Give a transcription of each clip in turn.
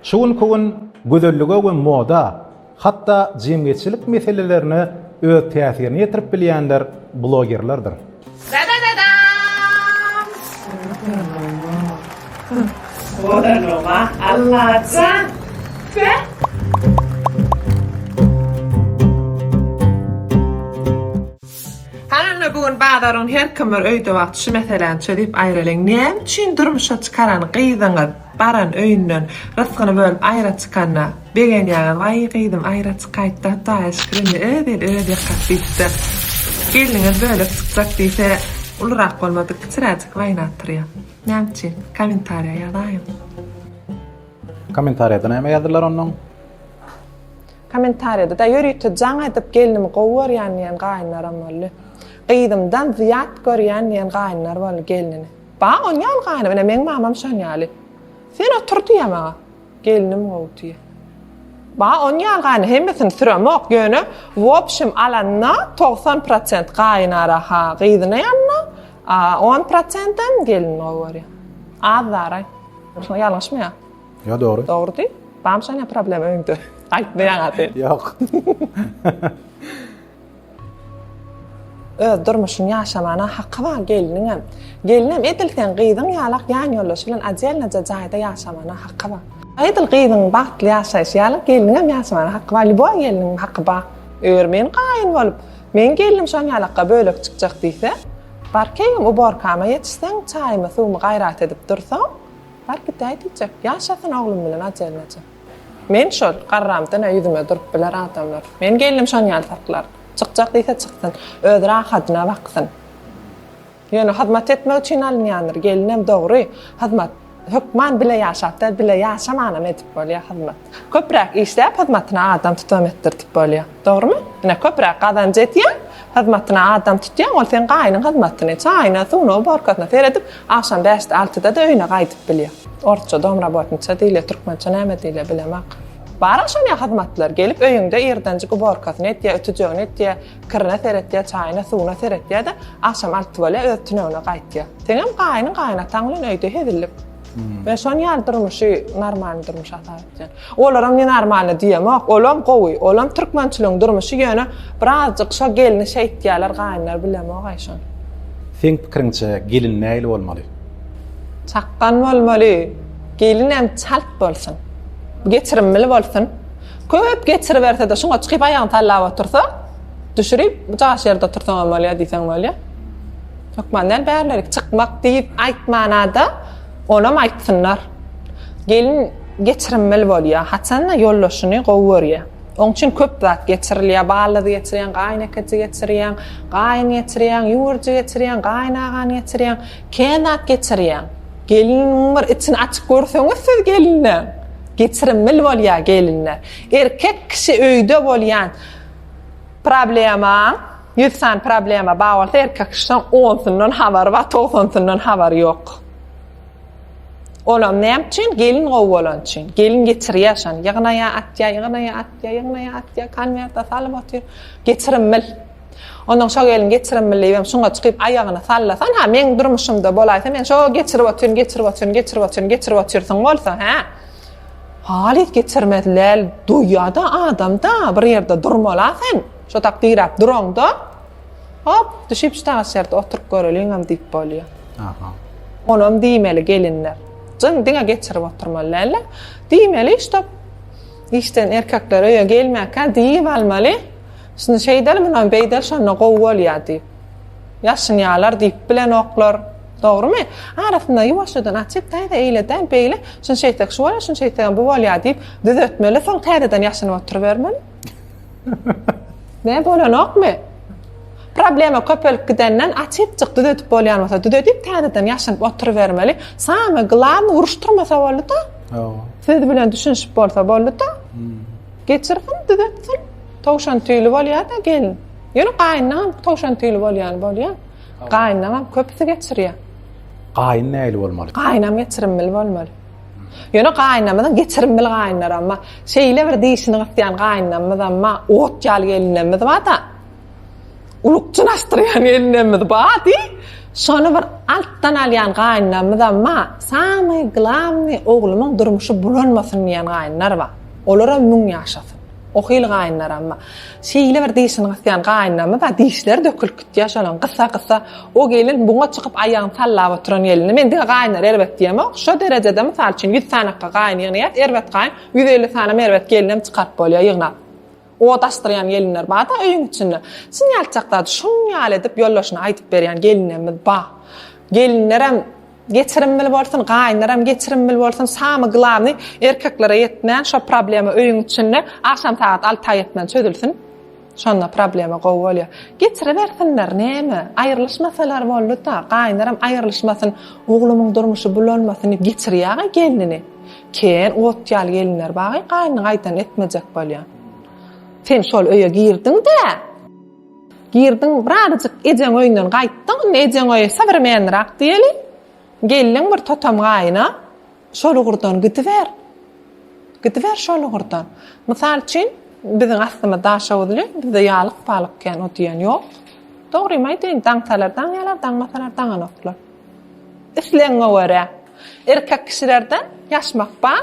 Şu günki gün gözellige we moda, hatda jemgyýetçilik meselelerine öz täsirini ýetirip bilýänler blogerlerdir. Dadadadam! Soranoma Allajan! Heh! Halyna bu gün bazaryň herkim bir öýde wagty şu meseläni çözüp aýralyň näme üçin durmuşa çykaran gyzyňyz Baran öýünden rysgyny bölüp aýra çykanda, begenýäňiz, Waý, gyzym, aýra çykaýt-da, Hudaýa şükür, indi öz eli öz ýakar diýip-de, gelniňiz bölek çykjak diýse, ulurak bolmadyk kiçiräjik waýna atyrýa. Näme üçin? Kommentariýa ýazaýyň. Kommentariýada näme ýazdylar onnoň? Kommentariýada da ýörite jaň edip gelnimi gowy görýän diýen gaýynlaram boldy. Gyzymdan zyýat görýän diýen gaýynlar boldy gelnini. Baý oň ýaly gany menä meň mamam şon ýaly. Sen otur diýýä maňa. Gelnim gowy diýýä. Baý oň ýaly gany hemmesini süremok ýöne wobşem alanda togsan prosent gaýynara ha gyzyna ýanna a on prosentem gelin gowy görýä. Az zaraý. Şoň ýalňyşmy ýa? Ýa dogry. Dogry diý. Bam şonýa problem öýüňde. Aýtmaýaňa sen. Ýok. Öz durmuşyny ýaşamana haky bar gelniňem. Gelnem edil sen gyzyň ýalak ýan ýoldaşy bilen odelnaja jaýda ýaşamana haky bar. Edil gyzyň bagtly ýaşaýşy ýalak gelniňem ýaşamana haky bar lýuboý gelniň haky bar. Eger men gaýyn bolup, meň gelnim şoň ýalakga bölek çykjak diýse, bar keýgim uborkama ýetişseň, çaýymy suwumy gaýrat edip dursaň, bar gidäý diýjek. Ýaşasyn oglum bilen odelnaja. Men şol, garramtyna ýüzüme durup biler adamlar. Meniň gelnim şonuň ýaly saklar. Çykjak diýse çyksyn. Özi rahadyna baksyn. Ýöne hyzmat etmek üçin alynýandyr. Gelinem dogry, hyzmat. Hökman bile ýaşap däl, bile ýaşamanam edip bolýar hyzmat. Köpräk işläp hyzmatyna adam tutam etdirdip bolýar. Dogrymy? Ine köpüräk gazanç etýäň, hyzmatyna adam tutýaň, ol seň gaýynyň hyzmatyny, çaýyna, suwuna, uborkasyna seredip, agşam bäşde, altyda-da öýüne gaýdyp bilýär. Orsça domrabotniça diýilýär, türkmençe näme diýilýär, bilemok. Bar-a şonýa hyzmatlar, gelip öýüňde ýerdenjik uborkasyny etýär, ütüjegini etýär, kirine seretýär, çaýyna, suwuna seretýär-de, agşam alty bolýar, öz tünegine gaýtýar. Seňem gaýynyň, gaýynataň bilen öýde hezillik. Men şon ýaly durmuşy normalny durmuş hasap edýän. Olaram men normalny diýemok, olam gowy, olam türkmençiligiň durmuşy ýöne birazjyk şo gelini şeýtýärler gaýynlar bilemok aý şony. Seň pikiriňçe gelin nähili bolmaly? Çakgan bolmaly. Gelinem çalt bolsun. Geçirimli bolsun. Köp geçiribersede şuňa çykyp aýagyny sallap otursa, düşürip jaş ýerde otursaňam bolýar diýseň bolýar. Hökman däl, bärlerik çykmak diýip aýtmana-da, olam aýtsynlar. Gelin geçirimli bolýar, haçan-da ýoldaşyny gowy görýär. Oň üçin köp zat geçirilýär, baldaz geçirýäň, gaýynekeçi geçirýäň, gaýyn geçirýäň, ýüwürji geçirýäň, gaýynagany geçirýäň, kän zat geçirýäň. Geliniň bir içini açyp görseňiz siz gelinleň, geçirimli bolýar gelinler. Erkek kişi öýde bolýan problemaň, Ýüz sany problema bar bolsa erkek kişiden onsyndan habary bar, togsansyndan habary ýok. Olam näme üçin? Gelin gowy bolan üçin. Gelin geçirýär şony. Ýygnaýa atýa, ýygnaýa atýa, ýygnaýa atýa, konwertde salyp otyr. Geçirim bil. Ondan şo gelin geçirim bil diýip, şoňa çykyp aýagyny sallasan, ha, meň durmuşymda bolaýsa, men şo geçirip otyryn, geçirip otyryn, geçirip otyryn, geçirip otyrsyň bolsa, ha. Halyt geçirmezler, duýýa-da adamda, bir ýerde durmala sen. Şotak diräp duraňda, hop, düşüp şu taş ýerde oturyp göreliňem diýip bolýar. Aha. Onam diýmeli gelinler. Jyn diňe geçirip oturmaly däl-de. Diýmeli, ştop, işden erkekler öýe gelmäkä diýip almaly. Şunu şeýdeli, munam beýdeli, şonda gowy bolýar diýip. Ýaşynýarlar diýip bilenoklar. Dogrumy? Arasynda ýuwaşjadan açyp, täze eýle däl, beýle, şunu şeýtsek şu bolýar, şunu şeýtsegem bu bolýar diýip düzetmeli, soň täzeden ýaşynyp oturybermeli. Ne bolanokmy? Problema köpelip gidenden açypjyk düzedip bolýan bolsa düzedip täzeden ýaşanyp oturybermeli. Same glan uruşdyrmasa boldy-da. Siz bilen düşünişip bolsa boldy-da. Hmm. Geçirgin düzetsin. Towşan tüýli bolýar-da gelin. Ýöne gaýyndan towşan tüýli bolýan bolýar. Gaýyndan köpüsi geçirýär. Gaýyn näli bolmaly? Gaýynam geçirimli bolmaly. Ýöne gaýynamyzyň geçirimbil gaýynlar amma şeýle bir dişini gysýan gaýynamyz amma ot ýaly gelnemmiz bada ulukjyn açdyrýan gelnemmiz ba di şony bir altdan alýan gaýynamyz amma samy glavny oglumyň durmuşy bulanmasyn diýen gaýynlar ba olaram müň ýaşasyn. Ohyl gaýynlaram bar. Şeýle bir dişini gysýan gaýynlamy bar, dişleri dökülip gitýär şolaň, gysa-gysa. O gelin buňa çykyp aýagyny sallap oturan gelindi. Men diňe gaýynlar erbet diýemok. Şo derejede, mysal üçin, ýüz sanakga gaýyn ýygnaýas, erbet gaýyn, ýüz elli sanam erbet gelinem çykaryp bolýar ýygnap. Ot açdyrýan gelinler bar-da öýüň içinde. Çyn ýatjak zady şuň ýaly edip ýoldaşyna aýdyp berýän gelinlerimiz bar. Gelinlerem Geçirimli bolsun gaýynaram geçirimli bolsun samy glawny erkeklere ýetmän şo problema öýüň içinde agşam sagat alta ýetmän çözülsin şonda problema gowy bolýa geçiribersinler näme aýrylyşmasalar bolduda gaýynaram aýrylyşmasyn oglumyň durmuşy bulanmasyn geçirýaga gelnini kän ot ýaly gelinler bagy gaýnyny gaýdan etmejek bolýa sen şol öýe girdiňdä. Girdiň, birazajyk ejeň öýünden gaýtdyň, indi ejeň öýi sowremennirak diýeli. Geldiň bir totam gaýyna, şol ugurdan gidiber. Gidiber şol ugurdan. Mysal üçin, biziň astymyz daşoguzly, bizde ýalyk-palyk kän o diýen ýok. Dogrymy aýdaýyn, daňsalar daňýarlar, daňmasalar daňanoklar. Islegiňe görä. Erkek kişilerde ýaşmak bar.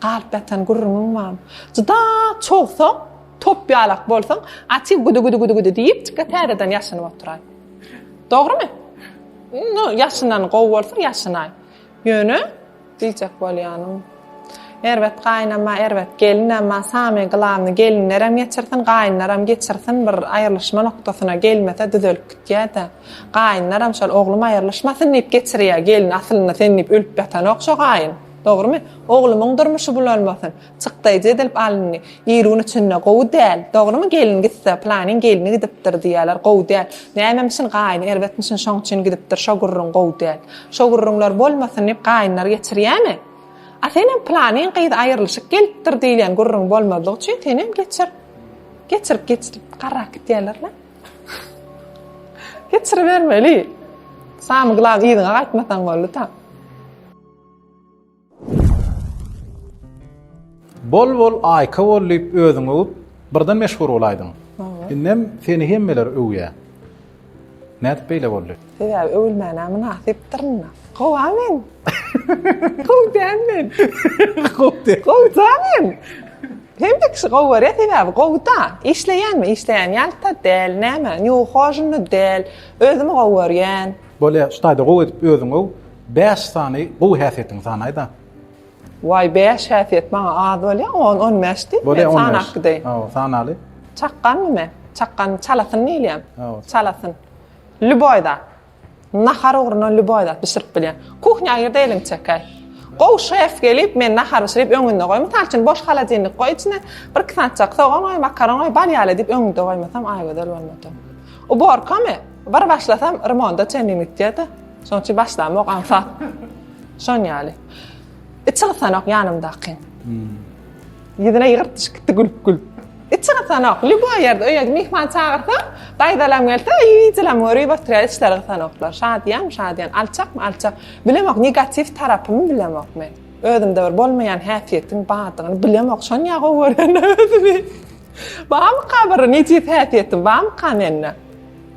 Galyp ýatan gürrüňiň bar. Juda çowsaň, top ýalak bolsaň, Atiw güdi-güdi-güdi-güdi diýip, çyka täzeden ýaşynyp oturaý. Dogrymy? Indi ýaşynan gowy bolsa ýaşynaý. Ýöne, diýjek bolýanym, erbet gaýynam-a, erbet gelinem-a, samy glawny gelinlerem geçirsin, gaýynlaram geçirsin, bir aýrylyşma nokdasyna gelmese düzelip gitýä-dä. Gaýynlaram şol oglum aýrylyşmasyn diýip geçirýä, gelin aslynda sen diýip ölüp ýatanok şo gaýyn. Dogrymy? Oglumyň durmuşy bulanmasyn. Çykdaýjy edilip alyndy. Ir gün içinde. Gowy däl. Dogrymy? Gelin gitse, Pylanyň gelni gidipdir diýerler. Gowy däl. Nämem üçin? Gaýny erbetmişin, şoň üçin gidipdir. Şo gürrüň gowy däl. Şo gürrüňler bolmasyn diýip, gaýynlar geçirýärmi? A senem pylanyň gyz aýrylyşyk gelipdir diýilýän gürrüň bolmazlyk üçin senem geçir. Geçirip geçirip garrak gidýärler-le. Geçiribermeli. Samy glawny yzyňa gaýtmasaň boldy-da. Bol bol aýka bol diýip özüňi öwüp, birden meşhur bolaýdyň. Indem seni hemmeler öwýä. Nädip beýle boldy? Sebäbi öwülmäne mynasypdyr indi. Gowa men. Gowy däl men. Gowy däl. Gowy da men. Hemme kişi gowy görýär, sebäbi gowy da. Işleýänmi? Işleýän ýalta däl, näme? Nju hoşunda däl. Özümi gowy görýän. Bolýa, şu taýda gowy edip özüňi öw. Bäş sany gowy häsiýetiňi sanaýda. Waý bäş häsiýet maňa az bolýa on on bäş diýip men sanap gideýin. Hawa sanaly. Çakganmy men? Çakgan çalasyn diýilýän. Çalasyn. Lýuboý zat. Nahar ugruna lýuboý zat bişirip bilýän. Kuhnýa gir-de eliňi çekäý. Gowy şef gelip men nahar bişirip öňünde goý. Mysal üçin boş holodilnik goý içine bir iki sany çak sogan goý, makaron goý, bal ýaly diýip öňünde goýmasam Aýgözel bolmady. Uborkamy? Bir başlasam remonda çenli ýitýä-de. Şoň üçin başlamok aňsat. Şoň ýaly. Içi gysanok ýanymdaky. Ýüzüne ýygyrt düşüp gitdi gülüp gülüp. Içi gysanok. Lýuboý ýerde öýe myhman çagyrsa, daýzalam gelse, iýijilam görüp oturýar, içleri gysanoklar. Şadyýan, şadyýan, alçakmy, alçak. Bilemok, negatiw tarapymy bilemok men. Özümde bir bolmaýan häsiýetiň bardygyny bilemok. Şonýa gowy görýän özümi. Barmyka bir nejis häsiýetim, barmyka mende?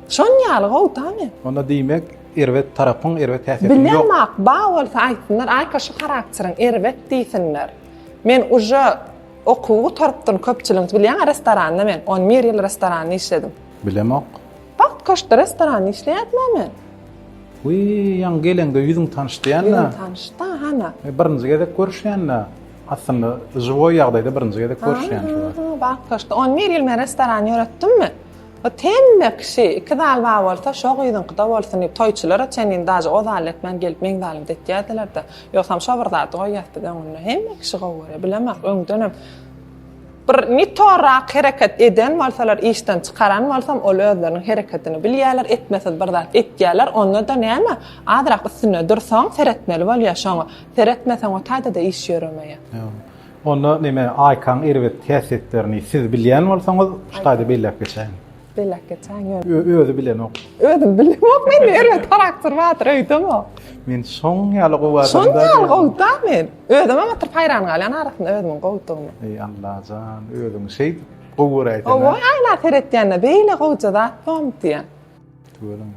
Şon ýaly gowy tamy. Onda diýmek erbet tarapyň erbet häsiýeti ýok. Bilýän ak ba bolsa aýtsynlar aýka şu harakteriň erbet diýsinler. Men uje okuw gutarypdyn köpçüligiň bilýän restoranda men on bir ýyl restoranda işledim. Bilemok. Bagt köşkde restoranda işleýädim a men. Wi ýaňy geleňde ýüzüň tanyş diýän da. Ýüzüň tanyş da hana. Birinji gezek görüşýän da. Aslynda žiwoý ýagdaýda birinji gezek görüşýän şu wagt. Bagt köşkde on bir ýyl men restoran ýöretdimmi? Ot hemme kişi iki zal bar bolsa şo gyzyňkyda bolsun diýip toýçulara çenli daže o zalda etmän gelip meň zalymda etýädilerde ýogsam şo bir zady goýýas biz öňünde hemme kişi gowy görýä bilemok öňdenem bir ne torrak hereket eden bolsalar işden çykaran bolsam ol özleriniň hereketini bilýäler etmesiz bir zat etýäler ondada näme azrak üstünde dursaň seretmeli bolýa şoňa seretmeseň otaýdada iş ýöremeýä. Onda neme Aýkaň erbet häsiýetlerini siz bilýän bolsaňyz şu taýda belläp geçäýiň. Belläp geçäýiň ýöne. Özi bilenok. Özüm bilenok men erbet harakter bardyr öýdemok. Men şoň ýaly gowy adam. Şoň ýaly gowda men. Özüm hem oturyp haýran galýan arasynda özümiň gowdygyma. Eý Allajan özüň şeýt gowy göräýseň. Owa aýna seretýände beýle gowja zat bormy diýýän. Tüweleme.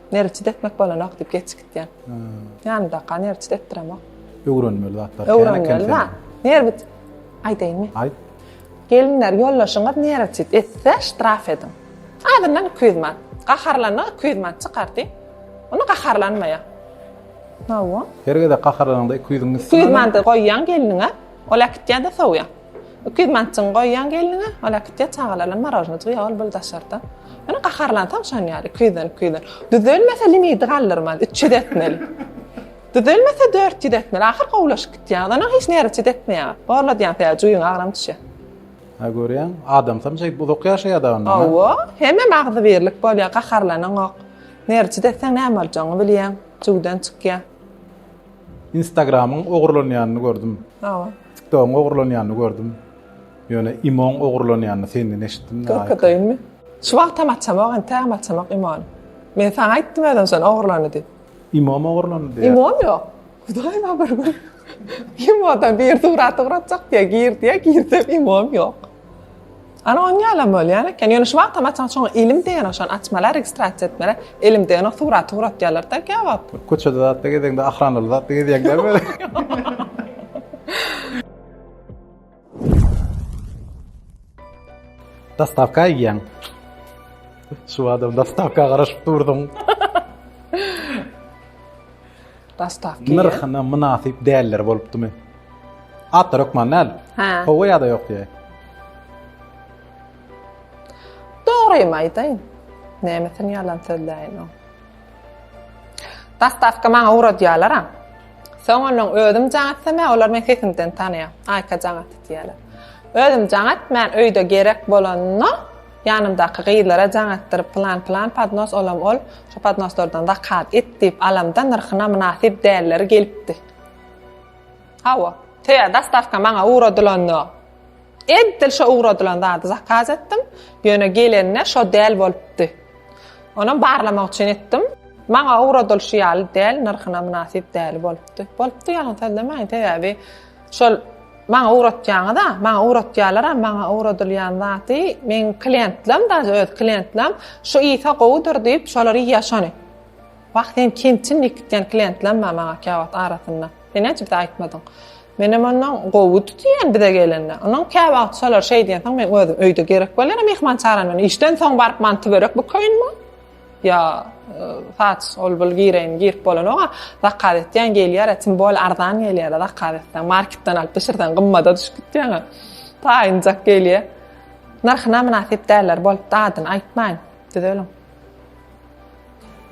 Nerçit etmek bolanok diýip geç gitýän. Ýandaky nerçit etdiremok. Öwrenmeli zatlar. Öwrenmeli zat. Nerbit. Aýdaýmy? Aýt. Gelinler ýollaşyňyz nerçit etse ştraf ediň. Azyndan 200 manat. Gaharlanyp 200 manat çykardy. Ony gaharlanmaýa. Hawa. Her gezek gaharlanyňda 200-iň üstüne. 200 manat goýýan geliniňe. Ol äkitýär-de sowýar. Iki ýüz manatjygyňy goýýaň gelniňe, ol äkitýär çagalar bilen morožnajyk iýýär, ol bir daşarda. Ýöne gaharlansaň şonýaly, iki ýüzden, iki ýüzden. Düzelmese limiti galdyrmaz, üç ýüz etmeli. Düzelmese dört ýüz etmeli, ahyr gowulaşyp gitýäňiz, onsoň hiç nerwçit etmeýäňiz. Gorladýaň sebäbi juýuň agram düşýär. Hä görýäň, adamsam şeýdip uzak ýaşaýarda ondan. Hawa, hemem agzybirlik bolýar, gaharlanaňok. Nerwçit etseň näme boljagyňy bilýäň, jüwden çykýar. Instagramyň ogurlanýanyny gördüm. Hawa. Tiktogyň ogurlanýanyny gördüm. Ýöne imoň ogurlanýanyny senden eşitdim. Görkezeyinmi? Şu wagtam açamok entägem açamok imony. Men saňa aýtdym özüm şony ogurlandy diýip. Imom ogurlandy diýýär. Imom ýok. Hudaý bar bir gün. Imodan bir surat ugratjak diýýär, gir diýýär, girsem imom ýok. Ana on ýala bolýan eken. Ýöne şu wagtam açan şoň ilim degen oşan açmala registrasiýa etmele. Ilim degen o surat surat ýalar da kebap. Köçede zatda gezeňde ahranly zatda gezeýäň dämi? Dastavka iýýäň. Şu adam dastavka garaşyp durdyň. Dastavka. Nyrhyna mynasyp dälleri bolupdymy? Atlar hökman näl? Hä. Howa ýa-da ýok diýe. Dogrymy aýdaýyn? Nämesini ýalan sözläýin o. Dastavka maňa ugradýarlar ha. Soň onuň özüm jaňat seme, olar men sesimden tanaýar. Aýka jaňat diýýärler. Özüm jaňat, men öýde gerek bolanda Ýanymdaky gyzlara jaň atdyryp pylan pylan podnos olam ol, şo podnoslardan zakat et diýip alamda nyrhyna mynasyp dälleri gelipdi. Hawa, toýa dastavka maňa ugradylanda edil şo ugradylan zady zakaz etdim, ýöne gelende şo däl bolupdy. Onam barlamak üçin etdim. Maňa ugradylyşy ýaly däl, nyrhyna mynasyp däli bolupdy. Bolupdy ýalan sözlemäýin, sebäbi Şol maňa ugratýaňyz-a, maňa ugratýarlar-a, maňa ugradylýan zady meň klientlem, daže öz klientlem, şu Isa gowudyr diýip, şolar iýýär şony. Wah, sen kimçin diýip gitýän klientlem bar maňa käwagt arasynda. Sen näçe bize aýtmadyň. Menem ondan gowudy diýen bize gelende. Ondan käwagt şolar şeý diýensoň, men özüm öýde gerek bolýara myhman çagyraryn. Men işden soň baryp manty-börek bukaýynmy? Ýa saç ol bul gireýin girip bolanok-a. Zakaz etýän gelýär-ä, tim bol arzan gelýär-ä zakaz etseň. Marketden alyp bişirseň gymmada düşüp gitýäň-ä. Taýynjak gelýär. Nyrhyna mynasyp däller bolupdy adyny aýtmaýyn. Düzeliň.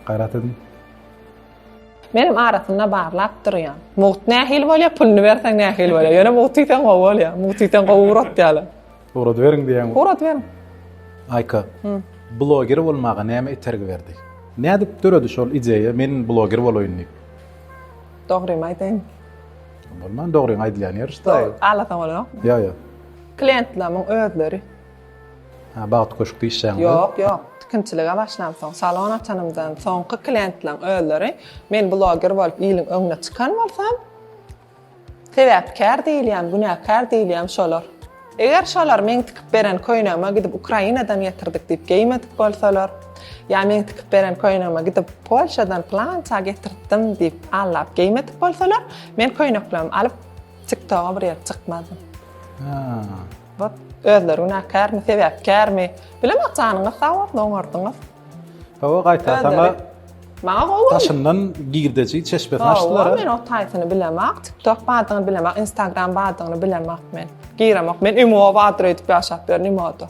Gaýrat ediň. Menem arasynda barlap durýan. Mugt nähili bolýar, puluny berseň nähili bolýar. Ýöne mugt iýseň gowy bolýar. Mugt iýseň gowy uratýarlar. Ugrady beriň diýýäňmi? Ugrady beriň. Aýka. Hı. Bloger bolmaga näme itergi berdi? Nädip döredi şol ideýa men bloger bolaýyn diýip? Dogrymy aýdaýyn. Bolman dogryň aýdylýan ýeri şda. Alasaň ol ýok. Ýa ýa. Klientleriň özleri. Ha bagt köşk diýişýäňmi? Ýok ýok. Tikinçilige başlam soň salon açanymdan soňky klientleriň özleri men bloger bolup iliň öňüne çykan bolsam Sebäpkär diýilýän, günäkär diýilýän şolar. Eger şolar meň tikip beren köýnegime gidip Ukrainadan getirdik diýip geýmedik bolsalar, ýa meň tikip beren köýnegime gidip Polşadan pylança getirtdim diýip allap geýmedik bolsalar, men köýneklerimi alyp TikToga bir ýere çykmazdym. Ýa. Özleri günäkärmi, sebäpkärmi? Bilemok janyňyz sag bolsun oňardyňyz. Hawa gaýta saňa Maňa gowy. Daşyndan girdeji çeşmesini açdylar. Men o taýsyny bilemak, TikTok badyny bilemak, Instagram badyny bilemak men. Giremok. Men imo badyr edip ýaşap ýörün imoda.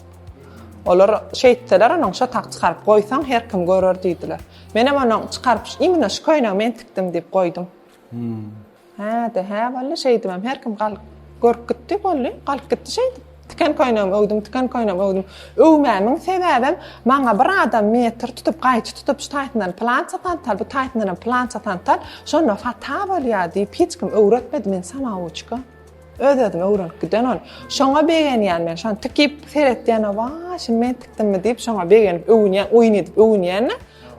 Olar şeýtseler onuň şo tak çykaryp goýsaň her kim görer diýdiler. Menem onuň çykaryp imine şu köýnegi men tikdim diýip goýdum. Hä-de, hä boldy, şeýdibem her kim galyp görüp gitdi, boldy, galyp gitdi şeýdip. Tiken köýnegimi öwdüm, tiken köýnegimi öwdüm. Öwmämiň sebäbem, maňa bir adam metr tutup, gaýçy tutup, şu taýsyndan plança sant al, bu taýsyndanam plança sant al, şonda fata bolýar diýip, hiç kim öwretmedi men samawuçka. Öz-özüme öwrenip giden ol. Şoňa begenýän men, şony tikip seretýän, wa, şuny men tikdimmi diýip, şoňa begenip öwünýän, oýun edip öwünýän-de.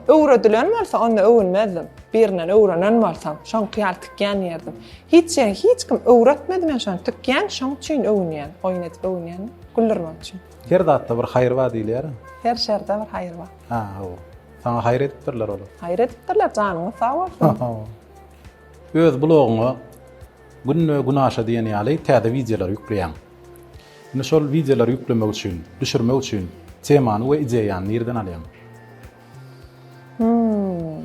Öwredilen bolsa, onda öwünmezdim. Birinden öwrenen bolsam, şoňky ýaly tikýän ýerdim. Hiç ýeri hiç kim öwretmedi men şony tikýän, şoň üçin öwünýän, oýun edip öwünýän, güldürmek üçin. Her zatda bir haýyr bar diýilýär-ä. Her şerde bir haýyr bar. Ha, hawa. Saňa haýyr edipdirler olar. Haýyr edipdirler, janyňyz sag bolsun. Öz blogyňa Günde gün aşa diýen ýaly täze wideolar ýükleýäň. Indi şol wideolary ýüklemek üçin, düşürmek üçin temany we ideýany nireden alýaň? Hmmm.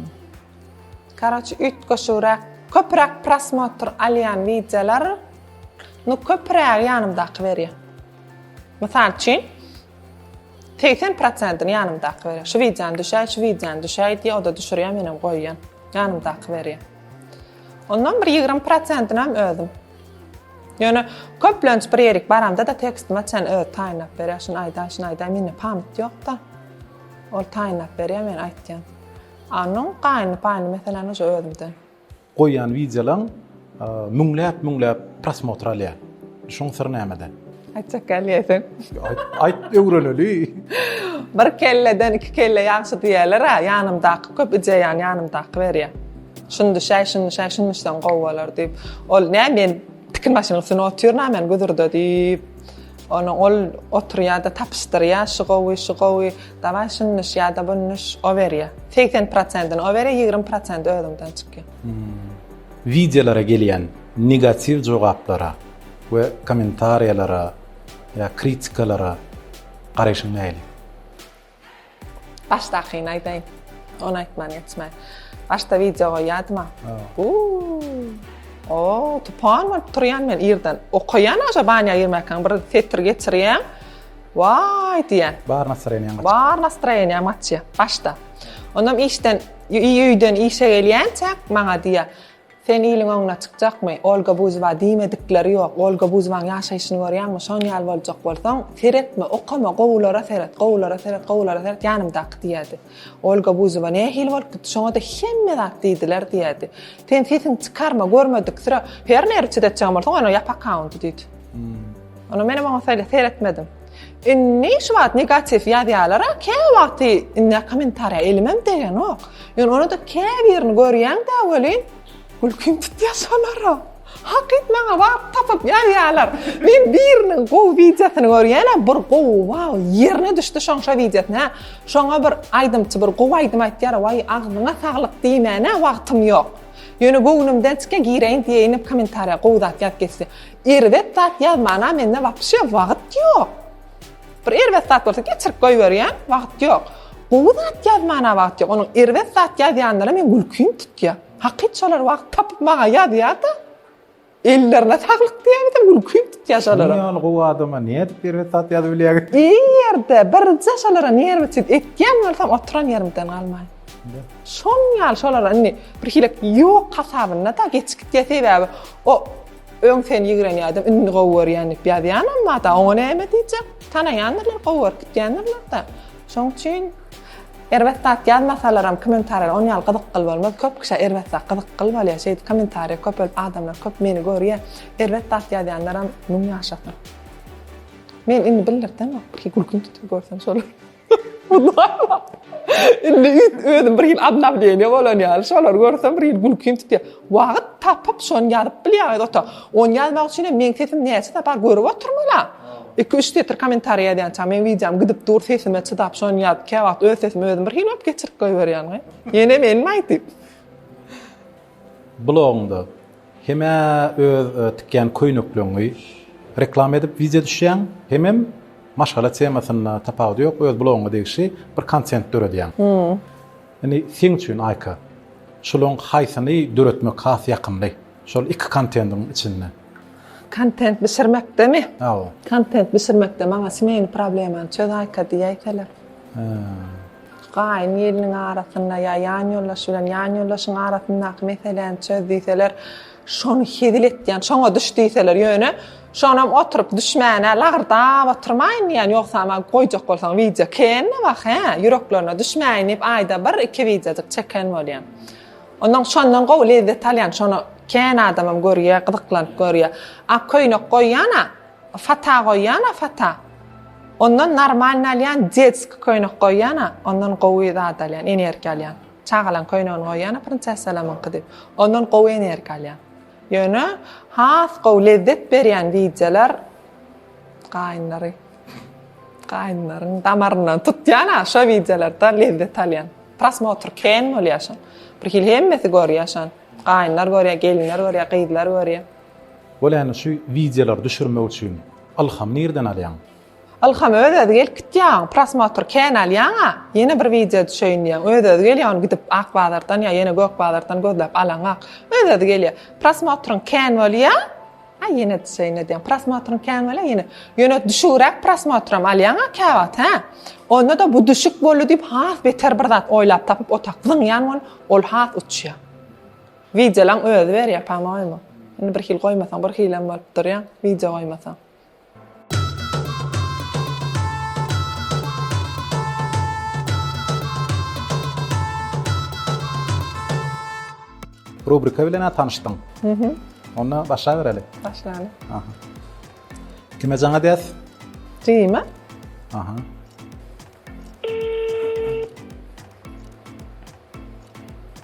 Karoçi üýtgeşigräk, köpräk prosmotr alýan wideolar, nu köprägi ýanymdaky berýär. Mysal üçin, segsen prosentini ýanymdaky berýär. Şu wideony düşäý, şu wideony düşäý diýýär, o-da düşürýär, menem goýýan. Ýanymdaky berýär. Ondan bir ýigrimi prosentinem özüm. Ýöne köplenç bir ýerik baramda-da tekstime çen özi taýynlap berýär. Şuny aýdaý, şuny aýdaý, mende pamyt ýok-da. Ol taýynlap berýär men aýtýan. Anyň gaýyny paýyny meselem uje özümden. Goýýan wideolaň müňläp müňläp prosmotr alýar. Şuň syry nämede? Aýtjak gelýäýseň. Aýt, aýt öwreneli. Bir kelleden iki kelle ýagşy diýýäler-ä, ýanymdaky köp ideýany ýanymdaky berýär. Şundyşaý, şundyşaý, şundyşsaň gowy bolar, diýip. Ol, nä, men tikin başynyň üstünde otyryn-a men guzurda, diýip, ony ol oturýar-da tapyşdyrýar, şu gowy, şu gowy, dawaý şundyş ýa-da bundyş, o berýär. Segsen prosentini o berýär, ýigrimi prosenti özüňden çykýar. Wideolara gelýän negatiw jogaplara we kommentariýalara ýa kritikalara garaýşyň nähili? Başdakyny aýdaýyn. Ony aýtman geçmäýin. Başda wideo goýýardyma. O, tupan bolup turýan men irden. Okaýan aşa banýa girmäkäň bir setir geçirýän. Waý diýen. Bar nastroýeniýaň gaçýar. Bar nastroýeniýaň gaçýar başda. Onam işden öýden işe gelýänçäk maňa diýýär. Sen iliň öňüne çykjakmy? Olga Buzowa diýmedikleri ýok. Olga Buzowaň ýaşaýşyny görýäňmi? Şon ýaly boljak bolsaň, seretme, okama, gowulara seret, gowulara seret, gowulara seret, ýanymdaky diýerdi. Olga Buzowa nähili bolup gitdi, şoňa-da hemme zat diýdiler diýerdi. Sen sesiňi çykarma, görmediksirä, ferneri çidetjegiň bolsa, oýna ýap akkaunty diýdi. Onam menem oňa seretmedim. Indi şu wagt negatiw ýazýalara käwagty indi kommentariýa elimem degenok. Ýöne onada käbirini görýäňdä welin gülkim tutýa şolara. Hakyt maňa baryp tapyp ýazýalar. Men biriniň gowy wideosyny görýänä bir gowy waw ýerine düşdi şoň şo wideosy hä. Şoňa bir aýdymçy bir gowy aýdym aýtýar waý agzyňa saglyk diýmäne wagtym ýok. Ýöne göwnümden çykýa gireýin diýeýin kommentariýa gowy zat ýazyp geçdi. Erbet zat ýazmana mende wapşe wagyt ýok. Bir erbet zat bolsa geçirip goýberýän, wagyt ýok. Gowy zat ýazmana wagyt ýok. Onuň erbet zat ýazýanlara men gülkim tutýa. Hakyt şolar wagt tapyp maňa ýazýada. Ellerine saglyk diýäýdim, gülkim tutýa şolara. Şunuň ýaly gowy adama nädip erbet zat ýazyp bilýäňiz? Iň ýerde birje şolara nerwiçit etýän bolsam oturan ýerimden galmaýyn. Şonuň ýaly şolara indi birhili ýok hasabynda-da geçip gitýä sebäbi o Öň seni ýigrenýärdim, indi gowy görýän diýip ýazýan emmada, oňa näme diýjek? Tanaýandyrlar, gowy görüp gitýändirler-de. Şoň üçin erbet zat ýazmasalaram kommentariýa on ýaly gyzykly bolmaz. Köp kişä erbet zat gyzykly bolýar. Şeýdip kommentariýa köpelip adamlar köp meni görýär. Erbet zat ýazýanlaram müň ýaşasyn. Men indi bildirdeňok, bir gülküm tutup görsem şolar. Indi özüm bir hil obnawleniýe bolan ýaly, şolary görsem bir hil gülkim tutýar. Wagt tapyp şony ýazyp bilýäňiz ota. Ony ýazmak üçin hem meň sesim näçe sapar görüp oturmalam. Iki-üç setr kommentariý ýazýançam meň wideom gidip dur sesime çydap şony ýazyp käwagt öz sesimi özüm bir hil bolup geçirip goýberýän. Ýene menmi aýdyp. Blogyňda hem öz tikýän köýnekleňňi reklama edip wideo düşýäň hemem maşgala temasynda tapawudy ýok öz blogyňňa degişli bir kontent döredýäň. Indi seň üçin Aýka şulaň haýsyny döretmek has ýakymly şol iki kontendiň içinde? Kontent bişirmekdemi? Hawa. Kontent bişirmekde maňa smeýny problemany çöz Aýka diýäýseler. Gaýyn-gelniň arasynda ýa ýanýoldaş bilen ýanýoldaşyň arasyndaky meseläni çöz diýseler, şony hezil etýän, şoňa düş diýseler, ýöne şonam oturyp düşmäne lagrdap oturmaýyn diýýän, ýogsam-a goýjak bolsaň wideo kän-de wah, hä, ýüreklerine düşmäýin diýip aýda bir, iki wideojyk çeken bolýan. Ondan şondan gowy lezzet alýan, şony kän adamam görýär, gyzyklanyp görýär. Ak köýnek goýýan-a, Fata goýýana fata. Ondan normalny alýan, detski köýnek goýýana, ondan gowy zat alýan, energiýa alýan. Çagalaň köýnegini goýýana prinsessalamyňky diýip, ondan gowy energiýa alýan. Ýöne has gowy lezzet berýän wideolar gaýynlary gaýynlaryň damaryndan tutýana şo wideolardan lezzet alýan. Prosmotr kän bolýar şol. Bir hili hemmesi görýär şony. Gaýynlar görýär, gelinler görýär, gyzlar görýär. Bolany şu wideolary düşürmek üçin ylham nirden alýaň? Ylham öz özi gelip gitýaň prosmotr kän alýaňa ýene bir wideo düşeýin diýýäň öz özi gelýär ony gidip ak bazardan ýa ýene gök bazardan gözläp alaňak öz özi gelýär prosmotryň kän bolýa a ýene düşeýin edýäň prosmotryň kän bolýa ýene ýöne düşügiräk prosmotram alýaňa käwagt hä onda da bu düşük boldy diýip has beter bir zat oýlap tapyp otak zyňýan ol has uçýa. Wideolaň özi berýär pamoýemi. Indi bir hil goýmasaň bir hilem bolup durýaň wideo goýmasaň. Rubrika bilen ha tanyşdyň. Mhm. Onda başlabereli. Başlaly. Aha. Kime jaň edýäs? Jime. Aha.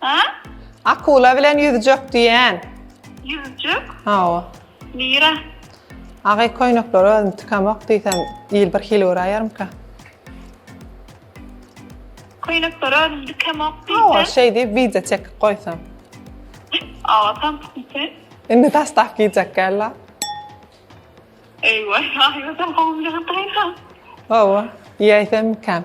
Ha? Akula bilen ýüzjek diýen. Ýüzjek? Hawa. Nira? Agy köýnekleri özüm tikamok diýsem, il bir hili göräýermika? Köýnekleri özüm dikamok diýsem. Hawa, şeý diýip wideo çekip goýsam. Awa, tam pikir. Indi taslap giýjek gälla. Eýwa, aýwa, tam gowulygy taýdan. Hawa, iýäýsem ikän.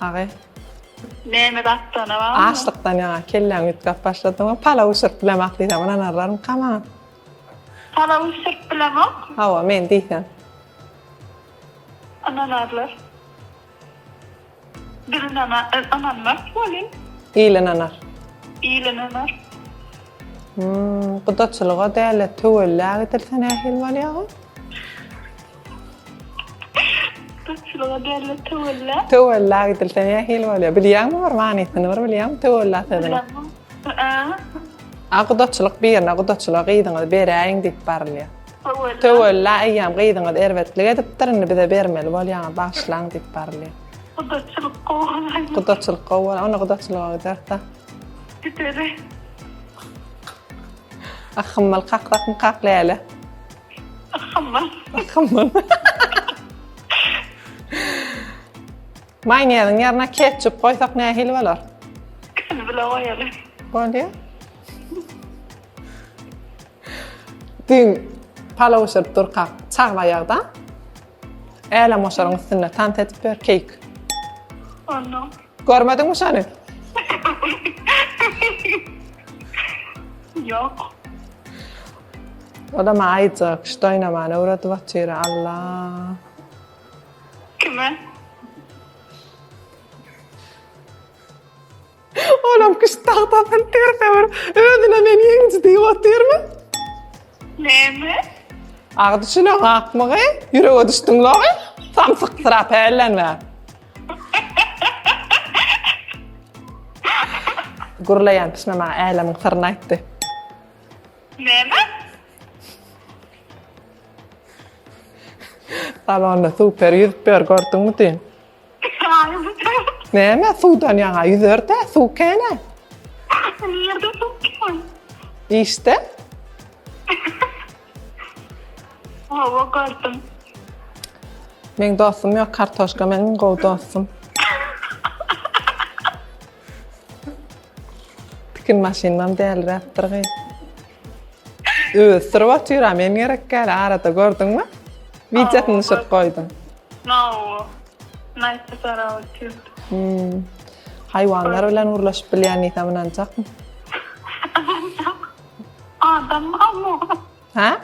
Agy. Näme datdana barmy? Açlykdan ýaňa kelläňi üýtgäp başladyňmy? Palaw bişirip bilemok diýseň ynanarlarmyka maňa? Palaw bişirip bilemok. Hawa, men diýsem. Ynanarlar. Biz ynanmarys welin. Il ynanar. Il ynanar. Gudaçylyga däl-de töwellä gidilse nähili bolýaga? Köpçülige derli töwella. Töwella gidilse ne hil bolýar? Bilýäňmi bir manysyny bir bilýäňmi töwella sözüni? A gudaçylyk birine gudaçylyga gyzyňyzy beräýiň diýip barylýar. Töwella. Töwella eýýäm gyzyňyz erbetlik edipdir, indi bize bermeli bolýaňyz, bagyşlaň diýip barylýar. Gudaçylyk gowy bolaýmaly. Gudaçylyk gowy bolaý, onda gudaçylyga gideris-ä. Gideris. Ahhym mal kaklatmy kak läle. Ahmar. Ahmar. Mayneziň ýerine ketçup goýsak nähili bolar? Ikisini bile goýaly. Bolýar. Düýn palaw bişirip durkak çagla ýagda. Älem oşaryň üstünde tans edip ýör keýik. Onu. Görmediňmi şony? Yok. Odama aýjak kişt oýnamany öwredip otyr Allah. Kime? Olam kişt tagtasyny terse bir özüne men ýeňiji diýip otyrmy? Näme? Agdy şulan gakmagy ýürege düşdüň logy. Samsyk syra pällenme. Gürleýän pişme maňa älemiň syryny aýtdy. Näme? Salonda super ýüzüp ýör, gördüňmi diýin. Näme suwdan ýaňa ýüzerde suw käne? Nirde suw kän? Işde? Hawa gördüm. Meň dostum ýok, kartoşka meniň gowy dostum. Tikin maşynynam däliräpdir gyz. Özi syryp otyr ha, men gerek gäli arada gördüňmi? Wideosyny düşürip goýdum. Nawo. Naýtdy sarap otyr. Hmm. Haýwanlar bilen gürleşip bilýän diýsem ynanjakmy? Ynanjak. Adam barmy? Hä?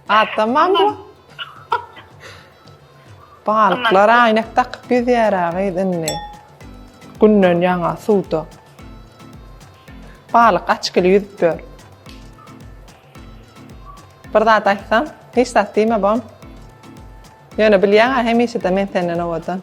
Adam mam bu? Balyklar aýnak dakyp ýüzýär-ä gyz indi. Günden ýaňa suwda. Balyk açkyly ýüzüp ýör. Bir zat aýtsam, hiç zat diýme bom. Ýöne bilýäň-ä hemişe-de men senden owadan.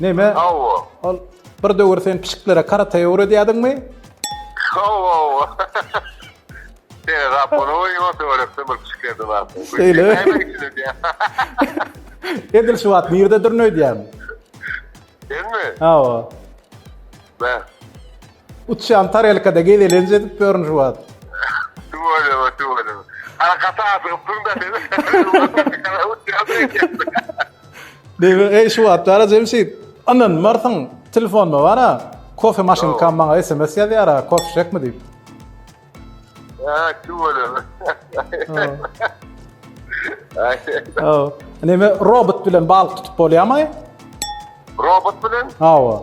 Neme? Hawa. Ol bir döwür sen pişiklere karate öwredýärdiňmi? Hawa. Sen rap onu oýnat öwretdi bir pişiklerde bar. Şeýle. Edil şu wagt nirde dürneýdýäň? Senmi? Hawa. Ben. Uçýan tarelkada gezelenç edip ýörün şu wagt. Tüweleme, tüweleme. Arkasy asygypdyň-da sen. Diýmek, eý, şu wagtlar-a Jemşit, ynanmarsyň, telefonda bar-a, kofe maşynkam maňa sms ýazýar-a, kofe içjekmi diýip. Haa, tüweleme. Hawa. Näme, robot bilen balyk tutup bolýarmy? Robot bilen? Hawa.